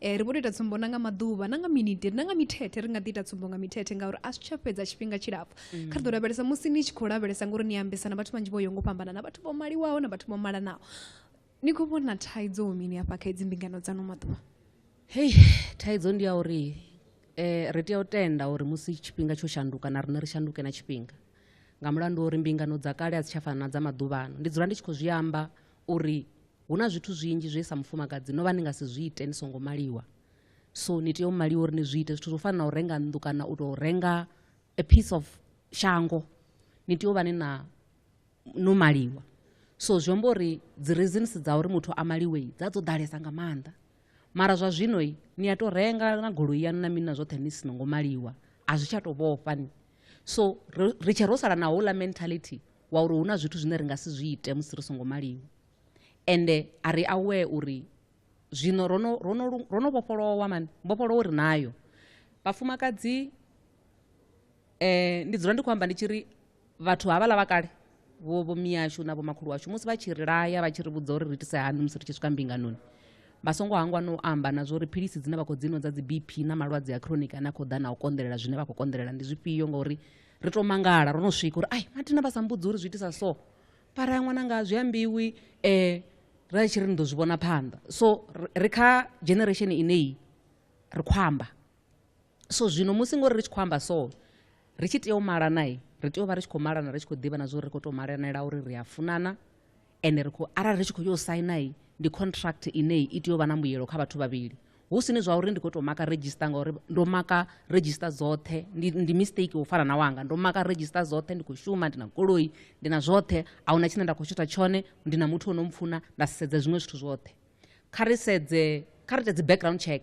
Eh, ri vho tou ita tsumbo na nga maḓuvha na nga miniti na nga mithethe ri nga ḓi ita tsumbo nga mithethe ngauri a zwi tsha fhedza tshifhinga tshilapfu mm. kha ri ḓo lavhelesa musi ni tshi khou lavhelesa ngori ni ambesa na vhathu vhanzhi vho yo ngo fhambana na vhathu vho maliwaho na vhathu vho malanaho ni khou vhona thaidzo mini hafha kha idzi mbingano dzano maḓuvha hei thaidzo ndi ya uri um ri tea u tenda uri musi tshifhinga tsho shanduka na riṋe ri shanduke na tshifhinga nga mulandu uri mbingano dza kale a dzi tsha fana na dza maḓuvhano ndi dzula ndi tshi khou zwi amba uri hu na zwithu zwinzhi zwe sa mufumakadzi no vha ni nga si zwi ite ni songo maliwa so ni tea u maliwa uri ni zwi ite zwithu zwo fana na u renga nnḓu kana u tou renga a piece of shango ni tea u vha ni na no maliwa so zwi amba uri dzi reasons dza uri muthu a maliwe dza dzo ḓalesa nga maanḓa mara zwa zwino ni a tou renga na goloi yanu na mini na zwoṱhe ni si no ngo maliwa a zwi tsha tou vhofha ni so ri tshe ro sala na houḽa mentality wa uri hu na zwithu zwine ri nga si zwi ite musi ri songo maliwa ende a ri aware uri zwino ro no- ro no lu- ro no vhofholowa mani mbofholowo ri nayo vhafumakadzi eh ndi dzula ndi khou amba ndi tshi ri vhathu havhaḽa vha kale vho vho miyashu na vhomakhulu washu musi vha tshi ri laya vha tshi ri vhudza uri ri itise hani musi ri tshi swika mbinganoni vha songo hangwa no amba na zwori philisi dzine vha khou dzinwa dza dzi bp na malwadze a chronic ane a khou ḓa na u konḓelela zwine vha khou konḓelela ndi zwifhio ngauri ri to mangala ro no swika uri ai mathina vha sa mbudzi uri zwi itisa so para ya ṅwananga zwi ambiwi um ra tshi ri ni ḓo zwi vhona phanḓa so ri kha generation ineyi ri khou amba so zwino musi ngori ri tshi khou amba so ri tshi tea u malana ri tea u vha ri tshi khou malana ri tshi khou ḓivha na zwa uri ri khou tou malanela uri ri a funana ende ri khou arali ri tshi khou yo saina i ndi contract ine i tea u vha na mbuyelo kha vhathu vhavhili hu sini zwa uri ndi khou tou maka register ngauri ndo maka register dzoṱhe ndi, ndi mistake u fana na wanga ndo maka register dzoṱhe ndi khou shuma ndi na goloi ndi na zwoṱhe a huna tshine nda khou tshuta tshone ndi na muthu o no mpfuna nda sedza zwiṅwe zwithu zwoṱhe kha ri sedze kha ri ite dzi background check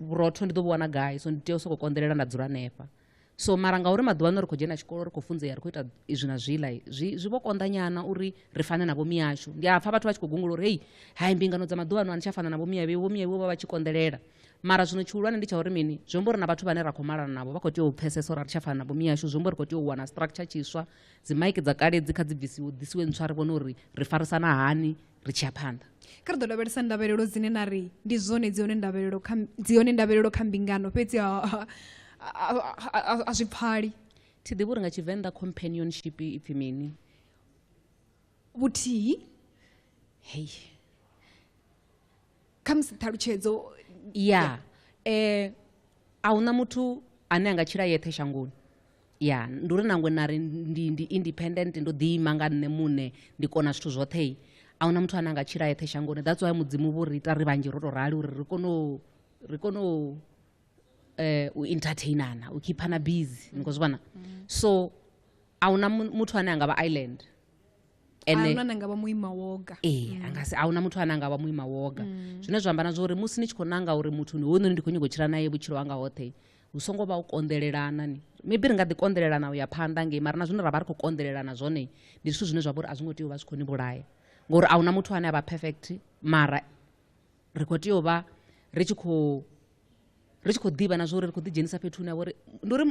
vhurotho ndi ḓo vhu wana gai so ndi tea u sokou konḓelela nda dzula hanefha so mara ngauri maḓuvha ano ri khou dzhena tshikolo ri khou funzea ri khou ita izwi na zwiḽa zwi zwi vho konḓanyana uri ri fane na vhomi yashu ndi a pfha vhathu vha tshi khou gungula uri hei hai mbingano dza maḓuvha ano a ni tsha fana na vhomi yavhe vhomi yavhe vha vha tshi konḓelela mara zwino tshihulwane ndi tsha uri mini zwi amba uri na vhathu vhane ra khou malana navho vha khou tea u pfesesa uri a ri tsha fana na vhomi yashu zwi amba uri khou tea u wana structure tshiswa dzi maiki dza kale dzi kha dzi bvisiwe ḓisiwe ntswa ri vhone uri ri farisana hani ri tshi ya phanḓa kha ri ḓo lavhelesa ndavhelelo dzine na ri ndi zwone dzi hone ndavhelelo kha dzi hone ndavhelelo kha mbingano fhedzi a zwi pfali thi ḓivhi uri nga tshivenḓa companionship ipfi mini vhuthihi hei khamusi ṱhalutshedzo ya eh a huna muthu ane a nga tshila yeṱhe shangoni ya ndi uri nangwe na ri ndi ndi independent ndo ḓiima nga nṋe muṋe ndi kona zwithu zwoṱhe a huna muthu ane a nga tshila yeṱhe shangoni that's why mudzimu vho ri ita ri vhanzhi ro to rali uri ri kone u ri kone u eh u entertainana u khiphana busy ni khou zwi vhona so a huna muthu ane a nga vha island ene nga vha muima woga ee mm. angasi ahuna muthu ane anga vha muima woga mm. zwine zwa amba na zwa uri musi ni tshi khou nanga uri muthu ni hoyunoni ndi khou nyingo tshila naye vhutshilo hanga hoṱhe hu songo vha u konḓelelana ni maybe ri nga ḓi konḓelelana u ya phanḓa ngei mara na zwine ra vha ri khou konḓelelana zwone ndi zwithu zwine zwa vha uri a zwi ngo tea u vha zwi khou ni vhulaya ngori a huna muthu ane a vha perfect mara ri khou tea u vha ri tshi khou ri tshi khou ḓivha na zwori ri khou ḓidzhenisa fhethu hune ha vhori ndi uri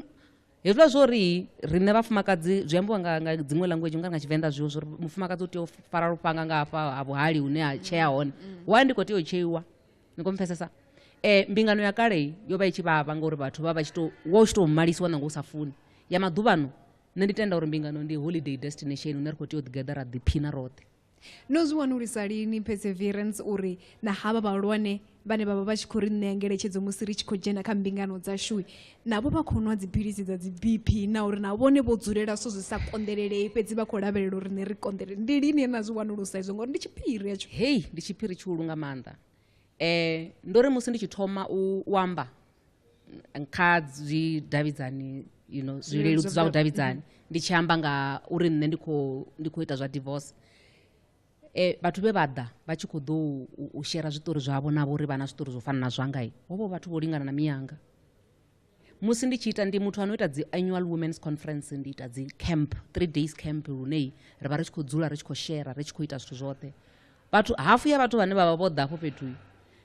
hezwiḽa zwo ri riṋe vhafumakadzi zwi ambiwa nga nga dziṅwe language nga nga tshivenḓa zwiwo zwo ri mufumakadzi u tea u fara lufhanga nga hafha ha vhuhali hune ha tshea hone mm. wa ndi khou tea u tsheiwa ni khou mpfesesa um mbingano ya kale yo vha i tshi vhavha ngauri vhathu vha vha tshi to wa u tshi tou malisiwa nanga u sa funi ya maḓuvhano nṋe ndi tenda uri mbingano ndi holiday destination hune ri khou tea u ḓigeḓa ra ḓiphina roṱhe No zwi wanulusa lini perseverance uri na havha vhahulwane vhane vha vha vha tshi khou ri ṋea ngeletshedzo musi ri tshi khou dzhena kha mbingano dzashu navho vha khou nwa dziphilisi dza dzi BP na uri na vhone vho dzulela so zwi sa konḓelelei fhedzi vha khou lavhelela uri ne ri konḓelele ndi lini ye na zwi wanulusa izwo ngori ndi tshiphiri hetsho hei ndi tshiphiri tshihulu nga maanḓa um ndo ri musi ndi tshi thoma u amba kha zwidavhidzani you know zwileludzi zwa vhudavhidzani mm-hmm. ndi tshi amba nga uri nṋe ndi khou ndi khou ita zwa divorce e, vhathu vhe vha ḓa vha tshi khou ḓo u shera zwiṱori zwavho navho uri vha na zwiṱori zwo fana na zwanga i hovho vhathu vho lingana na miyanga musi ndi tshi ita ndi muthu ano ita dzi annual women's conference ndi ita dzi camp three days camp lune ri vha ri tshi khou dzula ri tshi khou shera ri tshi khou ita zwithu zwoṱhe vhathu hafu ya vhathu vhane vha vha vho ḓa afho fhethu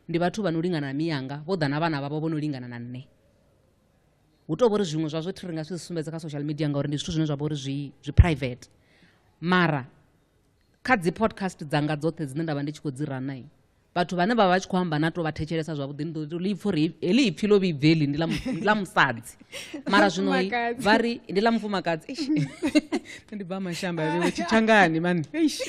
ndi vhathu vha no lingana na miyanga vho ḓa na vhana vhavho vho no lingana na nṋe hu tou vhori zwiṅwe zwa zwo thi ri nga si zwi sumbedze kha social media ngauri ndi zwithu zwine zwa vha uri zwi zwi private mara kha dzi podcast dzanga dzoṱhe dzine nda vha ndi tshi khou dzi ranai vhathu vhane vha vha tshi khou amba na to vha thetshelesa zwavhuḓi ndi ḓo tou lipfha uri heḽi ipfhi ḽo vhibveli ndi ḽa musadzi mara zwino Mufumakadzi. vha ri ndi ḽa mufumakadzi Eish. ndi bva mashamba vhewe tshitshangani mani Eish.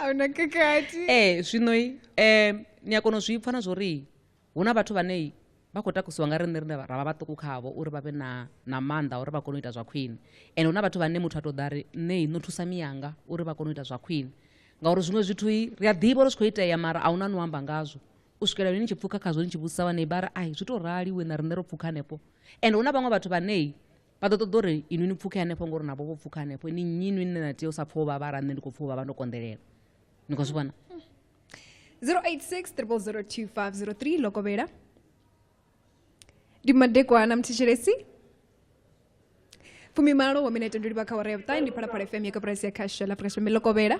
a huna khakhathi ee zwino um ni a kona u zwi pfa na zwori hu na vhathu vhane vha khou takusiwa nga riṋe rine ra vha vhaṱuku khavho uri vha vhe na na maanḓa a uri vha kone u ita zwa khwine and hu na vhathu vhane muthu a tou ḓa ri nṋe i no thusa miyanga uri vha kone u ita zwa khwine ngauri zwiṅwe zwithu i ri a ḓivha uri zwi khou itea mara a huna ni u amba ngazwo u swikela lini tshi pfuka khazwo ni tshi vhudzisa vhanei vha ri ai zwi to rali we na riṋe ro pfuka hanefho and hu na vhaṅwe vhathu vhanei vha ḓo ṱoḓa uri inwi ni pfuke hanefho ngori navho vho pfuka hanefho ni nnyi inwi nne na tea u sa pfha u vhavha ra nṋe ndi khou pfha u vhavha ndo konḓelela ni khou zwi vhona 086 0002503 lokovhela ndi madekwana mthetshelesi fumimalo wa minete ndo livha kha wara ya vhuṱae ndi phalaphala fm ya kaporasi ya khasho la afrika tshipembe lokovhela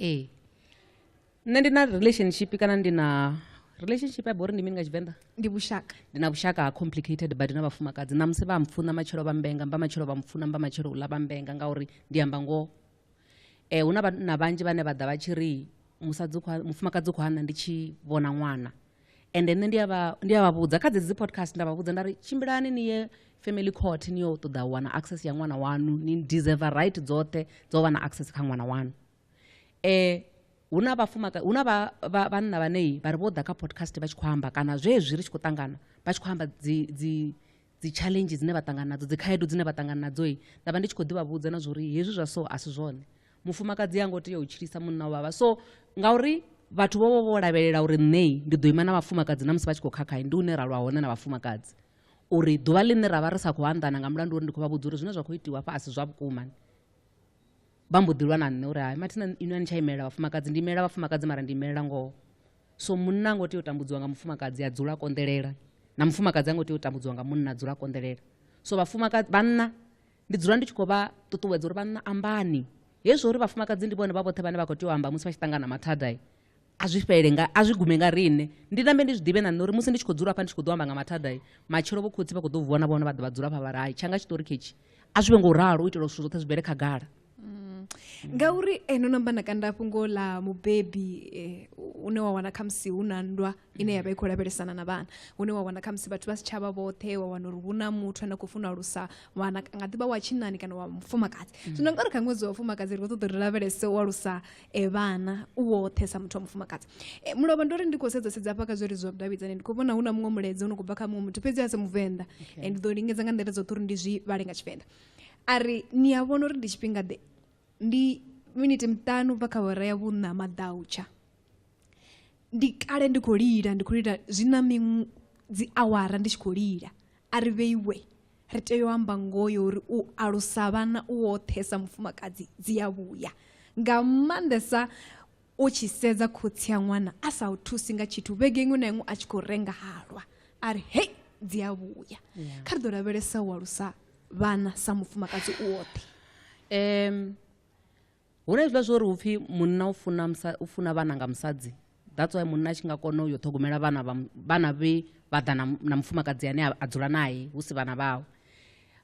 ee nṋe ndi na relationship kana ndi na relationship ya bori ndi mini nga tshivenḓa ndi vhushaka ndi na vhushaka ha complicated badi na vhafumakadzi ṋamusi vha mpfuna matshelo vha mbenga mba matshelo vha mpfuna mba matshelo uḽa vha mbenga ngauri ndi amba ngoho um hu na vhanna vhanzhi vhane vha ḓa vha tshi ri musadzi mufumakadzi u khou hana ndi tshi vhona ṅwana ende nṋe ndi a vha ndi a vha vhudza kha dzedzi dzi podcast nda vha vhudza nda ri tshimbilani ni ye family court ni yo ṱoḓa u wana access ya ṅwana wanu ni deserve right dzoṱhe dza u vha na access kha ṅwana wanu um hu na vhafumaka hu na vhanna vhanei vha ri vho ḓa kha podcast vha tshi khou amba kana zwezwi ri tshi khou ṱangana vha tshi khou amba dzi dzi dzi challenge dzine vha ṱangana nadzo dzi khaedu dzine vha ṱangana nadzo i nda vha ndi tshi khou ḓi vha vhudza na zwori hezwi zwa so a si zwone mufumakadzi a ngo tea u tshilisa munna wa vhavha so ngauri vhathu vho vho vho lavhelela uri nṋei ndi ḓo ima na vhafumakadzi na musi vha tshi khou khakhayi ndi une ra lwa hone na vhafumakadzi uri ḓuvha ḽine ra vha ri sa khou anḓana nga mulandu uri ndi khou vha vhudza uri zwine zwa khou itiwa fha a si zwa vhukuma vha mbo ḓi lwa na nṋe uri hai mathina inwi a ni tsha imelela vhafumakadzi ndi imelela vhafumakadzi mara ndi imelela ngoho so munna ngo tea u tambudziwa nga mufumakadzi a dzula konḓelela na mufumakadzi a ngo tea u tambudziwa nga munna a dzula konḓelela so vhafumakadzi vhanna ndi dzula ndi tshi khou vha ṱuṱuwedza uri vhanna ambani hezwi uri vhafumakadzi ndi vhone vha vhoṱhe vhane vha khou tea u amba musi vha tshi ṱangana mathadai a zwi fhele nga a zwi gume nga riṋe ndi nambe ndi zwi ḓivhe na nṋe uri musi ndi tshi khou dzula hafha ndi tshi khou ḓo amba nga mathadai matshelo vho khotsi vha khou ḓo vuwa na vhone vha ḓo vha dzula hafha vha ri hai tshanga tshiṱori khetshi a zwi vhe ngo ralo u itela zwithu zwoṱhe zwi bvele khagala mm. ngauri eh, no namba na kanda fhungo ḽa mubebi eh, une wa wana khamusi hu na nndwa ine ya vha i khou lavhelesana na vhana hune wa wana khamusi vhathu vha si tshavha vhoṱhe wa wana uri hu na muthu ane a khou funa alusa wana nga ḓivha wa tshinani kana wa mufumakadzi mm. zwino ngauri kha ṅwedzi wa mufumakadzi ri khou ṱoḓa ri lavhelese u alusa e vhana u woṱhe sa muthu wa mufumakadzi e, mulovha ndo ri ndi khou sedza sedza hafha kha zwo ri zwa vhudavhidzani ndi khou vhona hu na muṅwe mulaedza u no khou bva kha muṅwe muthu fhedzi a si muvenḓa okay. ndi ḓo lingedza nga nḓila dzoṱhe uri ndi zwi vhale nga tshivenḓa a ri ni a vhona uri ndi tshifhinga ḓe ndi miniti miṱanu bva kha hora ya vhuṋa maḓautsha ndi kale ndi khou lila ndi khou lila zwi na miṅwe dzi awara ndi tshi khou lila a ri vheiwe ri tea u amba ngoho yo uri u alusa vhana u woṱhe sa mufumakadzi dzi ya vhuya nga maanḓesa u tshi sedza khotsi ya ṅwana a sa u thusi nga tshithu vhege iṅwe na iṅwe a tshi khou renga halwa a ri hei dzi a vhuya kha ri ḓo lavhelesa u alusa vhana sa mufumakadzi u woṱhe um hu na hezwiḽa zwo ri hu pfhi munna u funa, u funa vhana nga musadzi that's why munna a tshi nga kona u yo ṱhogomela vhana vhana vhe vha ḓa na mufumakadzi ane a dzula naye hu si vhana vhawe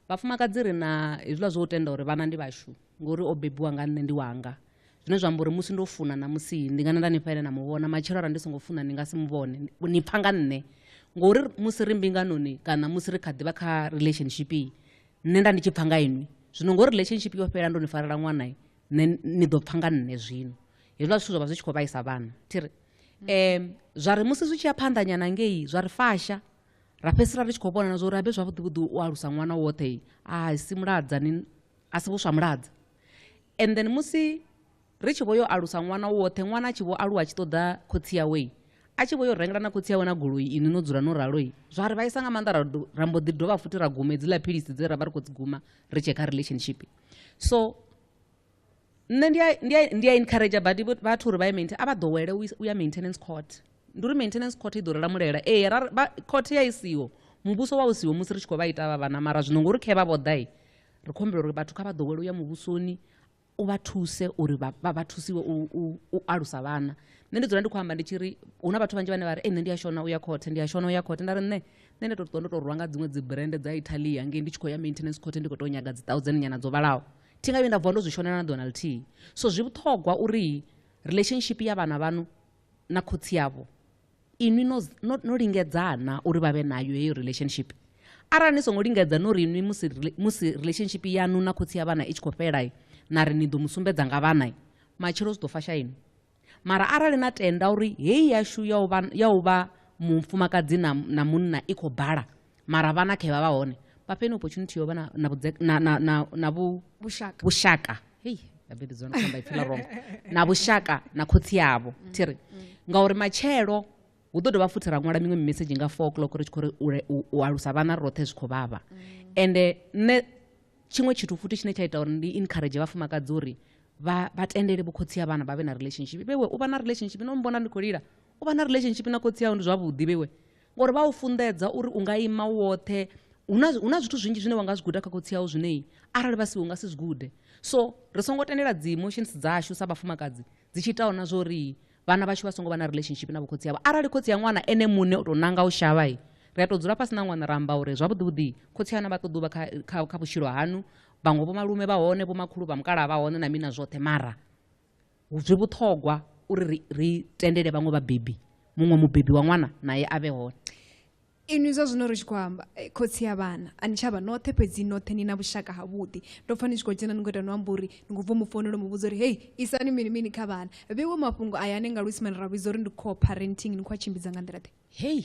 vhafumakadzi ri na hezwiḽa zwo u tenda uri vhana ndi vhashu ngori o bebiwa nga nṋe ndi wanga zwine zwa amba uri musi ndo funa na musi ndi nga na nda ni faile na mu vhona matshelo arali ndi songo funa ndi nga si mu vhone ni pfha nga nṋe ngori musi ri mbinganoni kana musi ri kha ḓivha kha relationship nṋe nda ndi tshi pfa nga inwi zwino ngori relationship yo fhela ndo ni farela ṅwana nṋe ni ḓo pfa nga nṋe zwino hezwiḽa zwithu zwa vha zwi tshi khou vhaisa vhana thiri um zwa ri musi zwi tshi ya phanḓanyana ngei zwa ri fasha ra fhedzisela ri tshi khou vhonana zwa uri habe zwavhuḓi vhuḓi u alusa ṅwana woṱhe a si muladza ni a si vhuswa muladza and then musi ri tshi vho yo alusa ṅwana woṱhe ṅwana a tshi vho aluwa a tshi ṱoḓa khotsi yawei a tshi vho yo rengela na khotsi yawe na goloi inwi no dzula no raloi zwa ri vhaisa nga maanḓa ra mbo ḓi dovha futhi ra guma hedziḽa philisi dze ra vha ri khou dzi guma ri tshee kha relationship so nṋe ndi a encourage badi vhathu uri vha ye maintain a vha ḓowele u ya maintenance court ndi uri maintenance court i ḓo rela mulela ee court ya i siho muvhuso wa u siho musi ri tshi khou vha ita vha vhana mara zwino ngori khe vha vho ḓai ri khou humbela uri vhathu kha vha ḓowele u ya muvhusoni u vha thuse uri vha vha thusiwe u alusa vhana nṋe ndi dzula ndi khou amba ndi tshi ri hu na vhathu vhanzhi vhane vha ri nṋe ndi a shona u ya khothe ndi a shona u ya khothe nda ri nṋe nṋe ndi to ṱuwa ndo tou rwa nga dziṅwe dzi brand dza italia ngei ndi tshi khou ya maintenance khothe ndi khou tou nyaga dzi thousand nyana dzo vhalaho thi nga vhuye nda vuwa ndo zwi shonela na ḓona lithihi so zwi vhuṱhogwa uri relationship ya vhana vhanu na khotsi yavho inwi no, no, no lingedzana uri vha vhe nayo heyo relationship arali ni songo lingedza no ri inwi musi, musi relationship yanu na khotsi ya vhana i tshi khou fhela na ri ni ḓo mu sumbedza nga vhana matshelo zwi ḓo fasha inwi mara arali na tenda uri heyi yashu ya u vha, ya u vha mufumakadzi na, na munna i khou bala mara vhana khe vha vha hone vha fhe ni opportunity yo vha na, na, vhudze, na, na, na, na vhu, vhushaka vhushaka hei vhabebi dzona kamba ipfela rongo na vhushaka na khotsi yavho mm. thiri mm. ngauri matshelo hu ḓo dovha futhi ra ṅwala miṅwe mimesedzhi nga four o'clock ri tshi khou ri u alusa vhana roṱhe zwi khou vhavha mm. ende nṋe tshiṅwe tshithu futhi tshine tsha ita uri ndi encourage vhafumakadzi uri vha tendele vhukhotsi ha vhana vha vhe na relationship vhewe u vha na relationship no mbona ndi khou lila u vha na relationship na khotsi awu ndi zwavhuḓi vheiwe ngori vha u funḓedza uri u nga ima u woṱhe hu na zwithu zwinzhi zwine wa nga zwi guda kha khotsi awu zwinei arali vha si u nga si zwi gude so ri songo tendela dzi emotions dzashu sa vhafumakadzi dzi tshi itaho na zwori vhana vhashu vha songo vha na relationship na vhokhotsi avho arali khotsi ya ṅwana ene muṋe u tou nanga u shavha i ri a tou dzula fhasi na ṅwana ra amba uri zwavhuḓivhuḓi khotsi ana vha ṱoḓa u vha kha, kha, kha vhutshilo hanu vhaṅwe vho malume vha hone vho makhulu vha mukalaha vha hone na mina zwoṱhe mara Zwi vhuṱhogwa uri ri, ri tendele vhaṅwe vhabebi, muṅwe mubebi wa ṅwana nae a vhe hone. Inwi zwa zwino ri tshi khou amba, eh, khotsi ya vhana, a ni tsha vha noṱhe, fhedzi noṱhe ni na vhushaka havhuḓi. Ndo pfa ni tshi khou dzhena ni khou ita no amba uri ni khou bva mu founela u mu vhudza uri hei, isani mini mini kha vhana. Vheiwe mafhungo aya ane nga Luisimane ra vhidza uri ndi co-parenting, ni khou a tshimbidza nga nḓila-ḓe? Hei!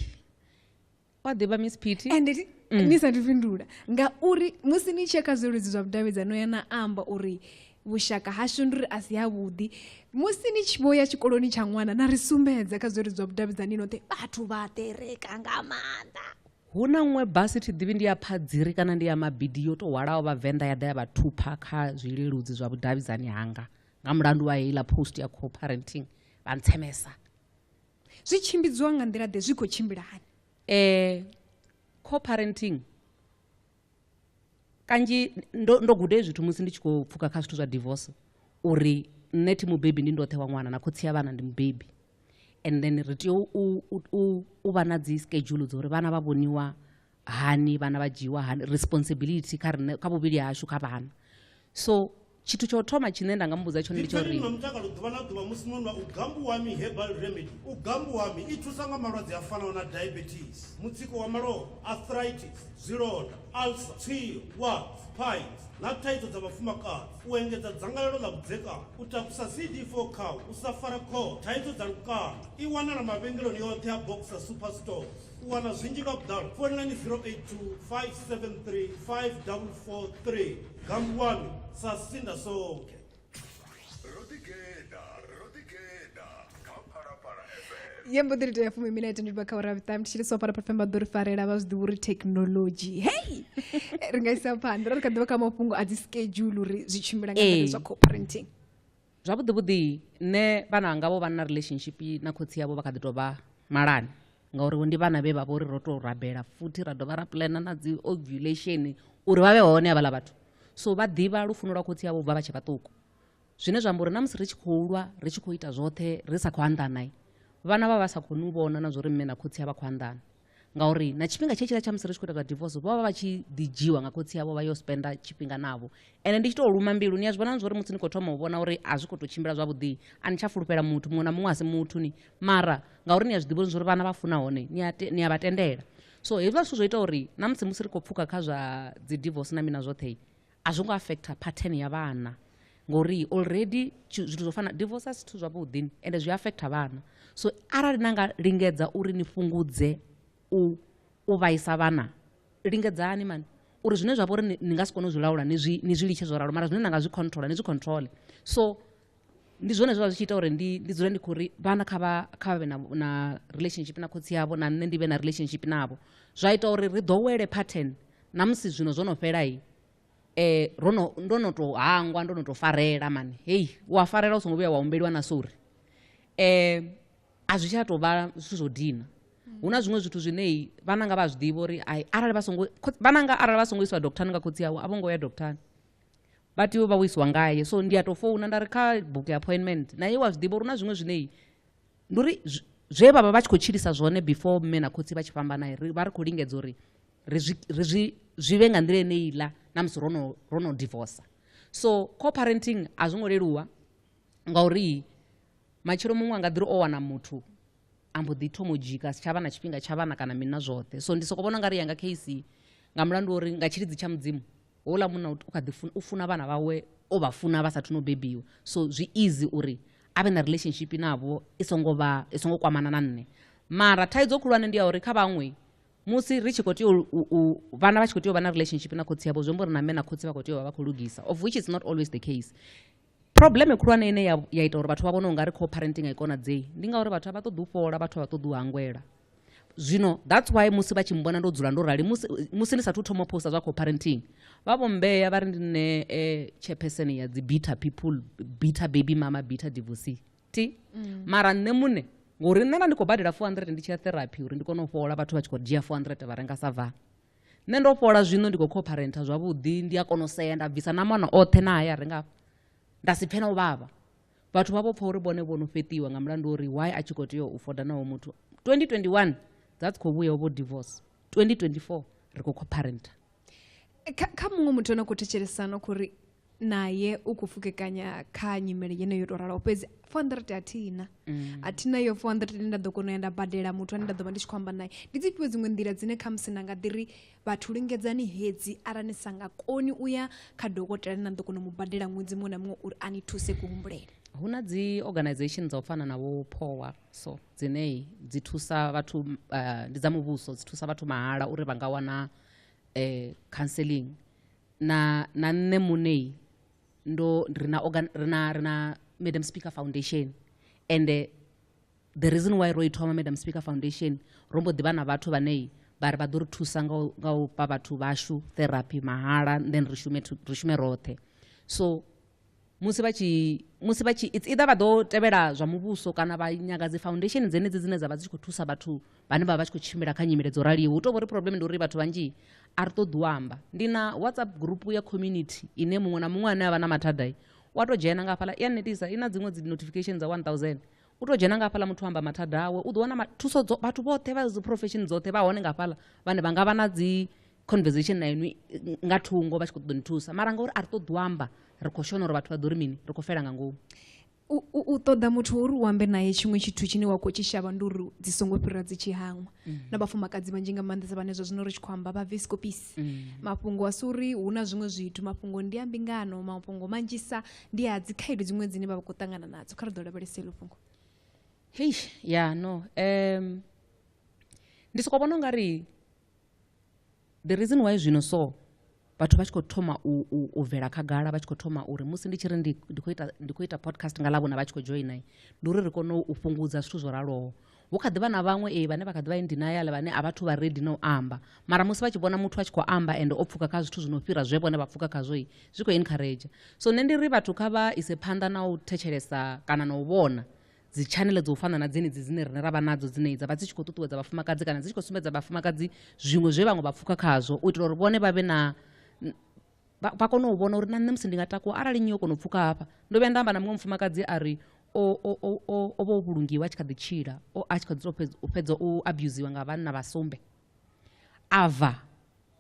wa ḓivha miss pity and it, mm. ni sathu fhindula ngauri musi ni tshia kha zwiludzi zwa vhudavhidzano ya na amba uri vhushaka hashu ndi uri a si havhuḓi musi ni tshi vho ya tshikoloni tsha ṅwana na ri sumbedza kha zwiludzi zwa vhudavhidzani noṱhe vhathu vha ṱereka nga maanḓa hu na ṅwe basi thi ḓivhi ndi ya phadziri kana ndi ya mabidi yo tou hwalaho vhavenḓa ya ḓa ya vha thupha kha zwileludzi zwa vhudavhidzani hanga nga mulandu wa heiḽa post ya co-parenting vha ntsemesa zwi tshimbidziwa nga nḓila ḓe zwi khou tshimbila hani eh co-parenting kanzhi ndo, ndo gude zwithu musi ndi tshi khou pfuka kha zwithu zwa divorce uri nṋe thi mubebi ndi ndoṱhe wa ṅwana na khotsi ya vhana ndi mubebi and then ri tea u vha na dzi schedule dza uri vhana vha vhoniwa hani vhana vha dzhiiwa hani responsibility kha riṋe kha vhuvhili hashu kha vhana so tshithu tsha u thoma tshine nda nga muvhudza tshone ndi tsho ri mutakalo ḓuvha na ḓuvha musi no nwa u gambuwami herbal remedy u gambuwami i thusa nga malwadze a fanaho na diabetes mutsiko wa malofha arthritis zwilonda alsa tswio wax pines na thaidzo dza vhafumakadzi u engedza dzangalelo ḽa vhudzekani u takusa cd4 kha u sa fara khoo thaidzo dza lukanda i wanala mavhengeloni yoṱhe a boxer super stores u wana zwinzhi nga vhuḓalo founelani 082 573 5443 Kambu wami sasinda sonke. yembo ḓiri tea fumi minete ndi vha kha ura vhuṱanu ndi tshi ri so fara pafemba ḓo ri farela vha zwi ḓivha uri thekhinolodzhi hei ri nga isa phanḓa ra ri kha ḓivha kha mafhungo a dzi schedule uri zwi tshimbila nga Ee. nḓila zwa co-parenting zwavhuḓi vhuḓi nṋe vhana vhanga vho vha na relationship na khotsi yavho vha kha ḓi tou vha malani ngauri ndi vhana vhe vha vho ri ro tou rabela futhi ra dovha ra plana na dzi ovulation uri vha vhe hone havhaḽa vhathu so vha ḓivha lufuno lwa khotsi yavho bva vha tshe vhaṱuku zwine zwa amba uri na musi ri tshi khou lwa ri tshi khou ita zwoṱhe ri sa khou anḓana vhana vha vha sa khou ni vhona na zwo ri mme na khotsi a vha khou anḓana ngauri na tshifhinga tshe tshila tsha musi ri tshi khou ita zwa divorce vho vha vha tshi ḓi dzhiwa nga khotsi yavho vha yo spenda tshifhinga navho ende ndi tshi tou luma mbilu ni a zwi vhona zwo uri musi ni khou thoma u vhona uri a zwi khou tou tshimbila zwavhuḓi a ni tsha fulufhela muthu muṅwe na muṅwe a si muthu ni mara ngauri ni a zwi ḓivha zwo uri vhana vha funa hone ni a vha tendela so hezwiḽa zwithu zwo ita uri na musi musi ri khou pfuka kha zwa dzi divorce na mina zwoṱhe a zwo ngo affecta pattern ya vhana ngori already zwithu zwo fana divorce a si zwithu zwavhuḓi ende zwi affecta vhana so arali na nga lingedza uri ni fhungudze u u vhaisa vhana lingedzani mani uri zwine zwa vha uri ni nga si kone u zwi laula ni zwi litshe zwo ralo mara zwine na nga zwi controla ni zwi controle so ndi zwone zwa zwi tshi ita uri ndi ndi dzule ndi khou ri vhana kha vha kha vha vhe na, na relationship na khotsi yavho na nṋe ndi vhe na relationship navho zwa ita uri ri ḓowele pattern na musi zwino zwo no fhela i eh ro no ndo no to hangwa ndo no to farela mani heyi u a farela u songo vhuya wa humbeliwa na sori eh a zwi tsha tou vha zwithu zwo dina hu na zwiṅwe zwithu zwine i vhananga vha a zwi ḓivha uri ai arali vha songo khotsi- vhananga arali vha songo iswa doctor nga khotsi awe a vho ngo ya doctor vha tea u vha wo isiwa ngaye so ndi a tou founa nda ri kha buke appointment na ye wa zwi ḓivha uri na zwiṅwe zwinei ndi uri zwe vha vha vha tshi khou tshilisa zwone before mme na khotsi vha tshi fhambana ri vha ri khou lingedza uri ri zwi ri zwi zwi vhe nga nḓila ine iḽa na musi ro no ro no divorce so co-parenting a zwo ngo leluwa ngauri matshelo muṅwe a nga ḓi ri o wana muthu a mbo ḓi thomo dzhika si tsha vha na tshifhinga tsha vhana kana mini na zwoṱhe so ndi sokou vhona nga ri yanga case nga mulandu uri nga tshilidzi tsha mudzimu houḽa munna u kha ḓi funa u funa vhana vhawe o vha funa vha sathu no bebiwa so zwi easy uri a vhe na relationship navho i songo vha i songo kwamana na nṋe mara thaidzo khulwane ndi ya uri kha vhaṅwe musi ri tshi khou tea u vhana vha tshi khou tea u vha na relationship na khotsi yavho zwi amba uri na mme na khotsi vha khou tea u vha vha khou lugisa of which is not always the case Phurobleme khulwane ine ya, ya ita uri vhathu vha vhone u nga ri co-parenting a i konadzei ndi ngauri vhathu a vha ṱoḓi u fhola vhathu a vha ṱoḓi u hangwela zwino that's why musi vha tshi mbona ndo dzula ndo rali musi, musi ndi sathu thoma posta zwa co-parenting vha vho mbeya vha ri ndi nṋe eh, chairperson ya dzi bitter people bitter baby mama bitter divorcee ti mm. mara nṋe muṋe ngori nṋe nda ndi khou badela 400 ndi tshi ya therapy uri ndi kone u fhola vhathu vha tshi khou dzhia 400 vha renga sa vaa nṋe ndo fhola zwino ndi khou khopharentha zwavhuḓi ndi a kona u sea nda bvisa na mana oṱhe na haya renga afha nda si pfhe na u vhavha vhathu vha vho pfha uri vhone vho no fheṱiwa nga mulandu uri why a tshi khou tea u foda naho muthu 2021 dza dzi khou vhuya vho divorce 2024 ri khou khopharentha kha muṅwe muthu ano khou thetshelesana khou ri naye u khou pfukekanya kha nyimele yeneyo yo tou ralaho fhedzi four hundred a thina mm. a thina yo four hundred ine nda ḓo kona u ya nda badela muthu ane nda ḓo vha ndi tshi khou amba naye ndi dzi fhio dziṅwe nḓila dzine kha musi na nga ḓiri vhathu lingedzani hedzi arali ni sa nga koni u ya kha dokotela ane na ḓo kona u mu badela ṅwedzi muṅwe na muṅwe uri a ni thuse kuhumbulele hu na dzi organization dza u fana na vho powa so dzine dzi thusa vhathu uh, ndi dza muvhuso dzi thusa vhathu mahala uri vha nga wana um counseling na na nṋe munei ndo ri na organ ri na ri na madam speaker foundation ende the reason why ro i thoma madam speaker foundation ro mbo ḓivha na vhathu vhanei vha ri vha ḓo ri thusa nga u- nga u fha vhathu vhashu therapy mahala and then ri shume thu- ri shume roṱhe so musi vha tshi musi vha tshi it's either vha ḓo tevhela zwa muvhuso kana vha nyaga dzi foundation dzenedzi dzine dza vha dzi tshi khou thusa vhathu vhane vha vha tshi khou tshimbila kha nyimele dzo raliho hu tou vha uri problem ndi uri vhathu vhanzhi a ri ṱoḓi u amba ndi na whatsapp group ya community ine muṅwe na muṅwe ane a vha na mathadai wa tou dzhena nga hafhaḽa i a netisa i na dziṅwe dzi notification dza 1000 u tou dzhena nga hafhaḽa muthu amba mathada awe u ḓo wana thuso vhathu vhoṱhe vha dzi profession dzoṱhe vha hone nga hafhaḽa vhane vha nga vha na dzi conversation na inwi nga thungo vha tshi khou ṱoḓa ni thusa mara ngauri a ri ṱoḓi u amba ri khou shona uri vhathu vha ḓo ri mini ri khou fela nga ngomu u ṱoḓa muthu uri u ambe naye tshiṅwe tshithu tshine wa khou tshi shavha ndi uri dzi songo fhira dzi tshi hangwa mm. na vhafumakadzi vhanzhi nga maanḓesa vhane zwa zwino ri tshi khou amba vha vescopisi mm. mafhungo a si uri hu na zwiṅwe zwithu mafhungo ndi a mbingano mafhungo manzhisa ndi a dzi khaedu dziṅwe dzine vha vha khou ṱangana nadzo kha ri ḓo lavhelesa elo fhungo hei ya no um ndi sokou vhona u nga ri The reason why zwino so vhathu vha tshi khou thoma u bvela khagala vha tshi khou thoma uri musi ndi tshi ri ndi khou ita ndi khou ita podcast nga ḽavhona vha tshi khou joina ndi uri ri kone u fhungudza zwithu zwo raloho hu kha ḓi vha na vhaṅwe ee vhane vha kha ḓi vha indinayale vhane a vhathu vha redi na u amba mara musi vha tshi vhona muthu a tshi khou amba ende o pfuka kha zwithu zwi no fhira zwe vhone vha pfuka khazwoi zwi khou encourage so nṋe ndi ri vhathu kha vha ise phanḓa na u thetshelesa kana na u vhona dzi channel dzo fana na dzenedzi dzine rine ra vha nadzo dzine dza vha dzi tshi khou ṱuṱuwedza vhafumakadzi kana dzi tshi khou sumbedza vhafumakadzi zwiṅwe zwe vhaṅwe vha pfuka khazwo u itela uri vhone vha vhe na vha kone u vhona uri na nṋe musi ndi nga takuwa arali nyi yo kona u pfuka hafha ndo vhuya nda amba na muṅwe mufumakadzi a ri o vha o vhulungiwa a tshi kha ḓi tshila a tshi kha ḓi u fhedza u abusiwa nga vhanna vha sumbe a bva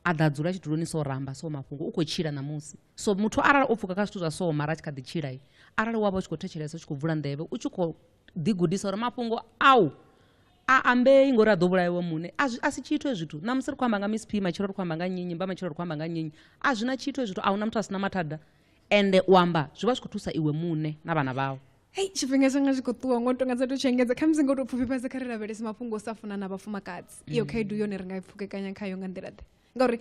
a ḓa dzula tshiduloni so ramba so mafhungo u khou tshila ṋamusi so muthu arali o pfuka kha zwithu zwa so mara a tshi kha ḓi tshila arali wa vha u tshi khou thetshelesa u tshi khou vula nḓevhe u tshi khou ḓigudisa uri mafhungo au a ambei ngori a ḓo vhulaiwe muṋe a si tshithu e zwithu ṋamusi ri khou amba nga miss p matshelo ri khou amba nga nyinyi mba matshelo ri khou amba nga nyinyi a zwi na tshithu e zwithu a hu na muthu a si na mathada ende u amba zwi vha zwi khou thusa iwe muṋe na vhana vhau hei tshifhinga tshanga zwi khou ṱuwa ngo no tonga dza tou tshiengedza khamusi ngo tou pfufhifhadza kha ri lavhelese mafhungo o sa funa na vhafumakadzi iyo mm. khaedu yone ri nga i pfukekanya khayo nga nḓila ḓe ngauri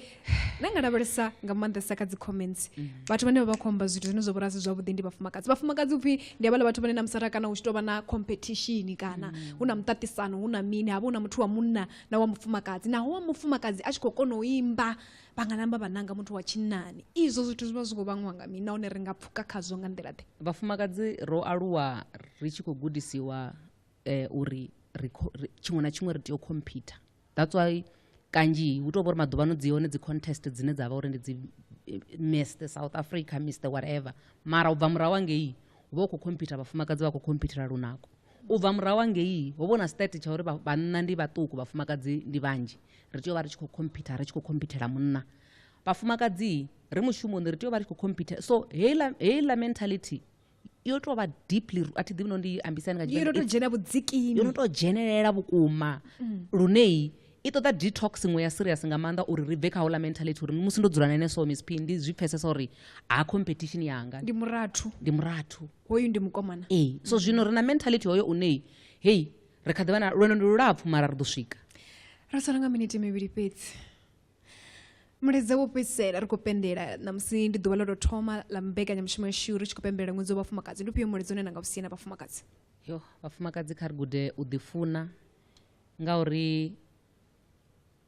na nga lavhelesa nga maanḓesa kha dzi comments mm. vhathu vhane vha vha khou amba zwithu zwine zwa vhora si zwavhuḓi ndi vhafumakadzi vhafumakadzi upfhi ndi havhala vhathu vhane na musara kana hu tshi tou vha na competition kana mm. hu na muṱaṱisano hu na mini havha hu na muthu wa munna na wa mufumakadzi naho wa mufumakadzi a tshi khou kona u imba vha nga namba vha nanga muthu wa tshinnani izwo zwithu zwi vha zwi khou vhangwa nga mini nahone ri nga pfuka khazwo nga nḓila ḓe vhafumakadzi ro aluwa ri tshi khou gudisiwa eh, uri ri kho- ri- tshiṅwe na tshiṅwe ri tea u khomphyutha that's why kanzhi hu tou vha uri maḓuvha ano dzi hone dzi contest dzine dza vha uri ndi dzi eh, miss the south africa miss the whatever mara u bva murahu angei hu vha u khou khomphyutha vhafumakadzi vha khou khomphyuthela lunako u bva murahu angei ho vha hu na state tsha uri vha- vhanna ndi vhaṱuku vhafumakadzi ndi vhanzhi ri tea u vha ri tshi khou khompitha ri tshi khou khompithela munna vhafumakadzi ri mushumoni ri tea u vha ri tshi khou khompitha so heiḽa heiḽa mentality yo tou vha deeply a thi ḓivhi no ndi ambisani nga yo no to dzhena vhudzikini yo no tou dzhenelela vhukuma mm. luneyi i ṱoḓa detox iṅwe ya serious nga maanḓa uri ri bve kha houḽa mentality uri musi ndo dzula na ene so miss p ndi zwi pfesesa uri ha competition yanga ndi murathu ndi murathu hoyu ndi mukomana ee so zwino ri na mentality hoyo uneyi hei ri kha ḓi vha na lwendo ndi lulapfu mara ri ḓo swika ra sala nga miniti mivhili fhedzi mulaedza wo fhedzisela ri khou pembela ṋamusi ndi ḓuvha ḽo tou thoma ḽa mbekanyamushumo yashu ri tshi khou pembela ṅwedzi wa vhafumakadzi ndi ufhio mulaedza une na nga u siena vhafumakadzi yo vhafumakadzi kha ri gude u ḓifuna ngauri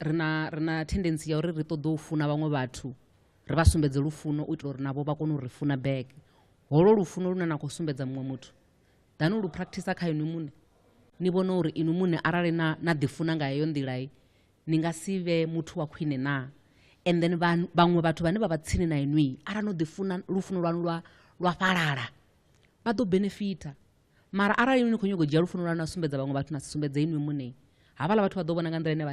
ri na ri na tendensi ya uri ri ṱoḓe u funa vhaṅwe vhathu ri vha sumbedze lufuno u itela uri navho vha kone u ri funa bege holo lufuno lune na khou sumbedza muṅwe muthu ḓani u lu practicer kha inwi muṋe ni vhone uri inwi muṋe arali na, na ḓifuna nga heyo nḓilai ni nga si vhe muthu wa khwine na and then vhaṅwe vhathu vhane vha vha tsini na inwi arali no ḓifuna lufuno lwanu lwa, lwa fhalala vha ḓo benefita mara arali inwi ni khou nyago u dzhia lufuno lwanu na sumbedza vhaṅwe vhathu na si sumbedze inwi muṋe havhala vhathu vha ḓo vhona nga nḓila ine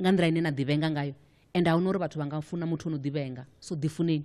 nga nḓila ine na ḓivhenga ngayo and a huna uri vhathu vha nga funa muthu o no ḓivhenga so ḓifuneni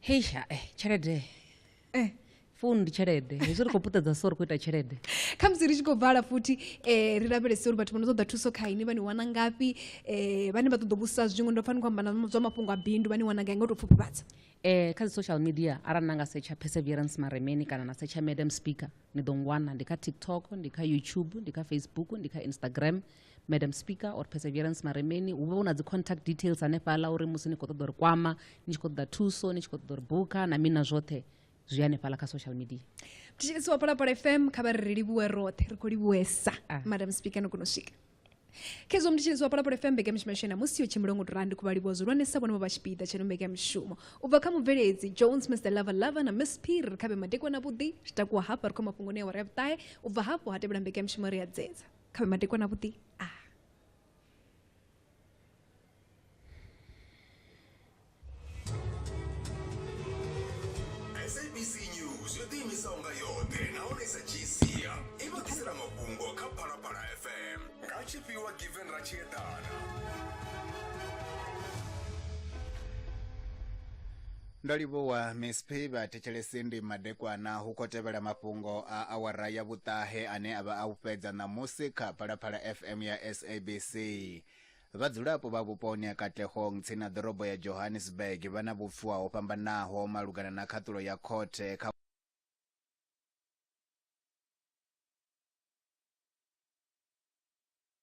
hei ha eh, tshelede eh. founu ndi tshelede hezwi ri khou puṱedza so ri khou ita tshelede khamusi ri tshi khou bvala futhi um ri lavhelese uri vhathu vha no ṱoḓa thuso kha ini vha ni wana ngafhi um vhane vha ṱoḓa vhusa zwiṅwe ndo pfani khou amba na zwa mafhungo a bindu vha ni wana gai nga u tou pfhuphuvatsa um kha dzi social media arali na nga setsha perseverance maremeni kana na setsha madam speaker ni ḓo ngwana ndi kha tiktok ndi kha youtube ndi kha facebook ndi kha instagram madam speaker or perseverance maremeni hu vha hu na dzi contact details hanefhala uri musi ni khou ṱoḓa uri kwama ni tshi khou ṱoḓa thuso ni tshi khou ṱoḓa uri buka na mina zwoṱhe zwi hanefhala kha social media thetshelesi wa phalaphala fm kha vha ri ri livhuwe roṱhe ri khou livhuwesa ah. madam speaker no kona u swika khezwo mnditsheledzo wa phalaphala fm mbekamishumo yashu na musi yo tshimbila ngo turandi khuvha livhuwa zwihulwanesa vhone vho vha tshipiḓa tsheno mbekamishumo u bva kha mubveledzi jones mr lava lava na miss pir ri khavhe madekwana vhuḓi ri takuwa hafha ri khou mafhungoni ya wari ya vhuṱahe u bva hafho ha tevhela mbekamishumo ri a dzedza kha vhe madekwana vhuḓi a ah. sabc news yo ḓiimisaho nga yoṱhe nahone sa gsia i vha ḓisela mafhungo kha phalaphala fm nga tshifhiwa given ratshieḓana ndo livhuwa miss p vhathetshelesi ndi madekwana hu khou tevhela mafhungo a awara ya vhuṱahe ane a vha a u fhedza ṋamusi kha phalaphala fm ya sabc vhadzulapo vha vhuponi ha katlehong tsini na ḓorobo ya johannesburg vha na vhupfuwa ho fhambanaho malugana na khaṱulo ya khothe kha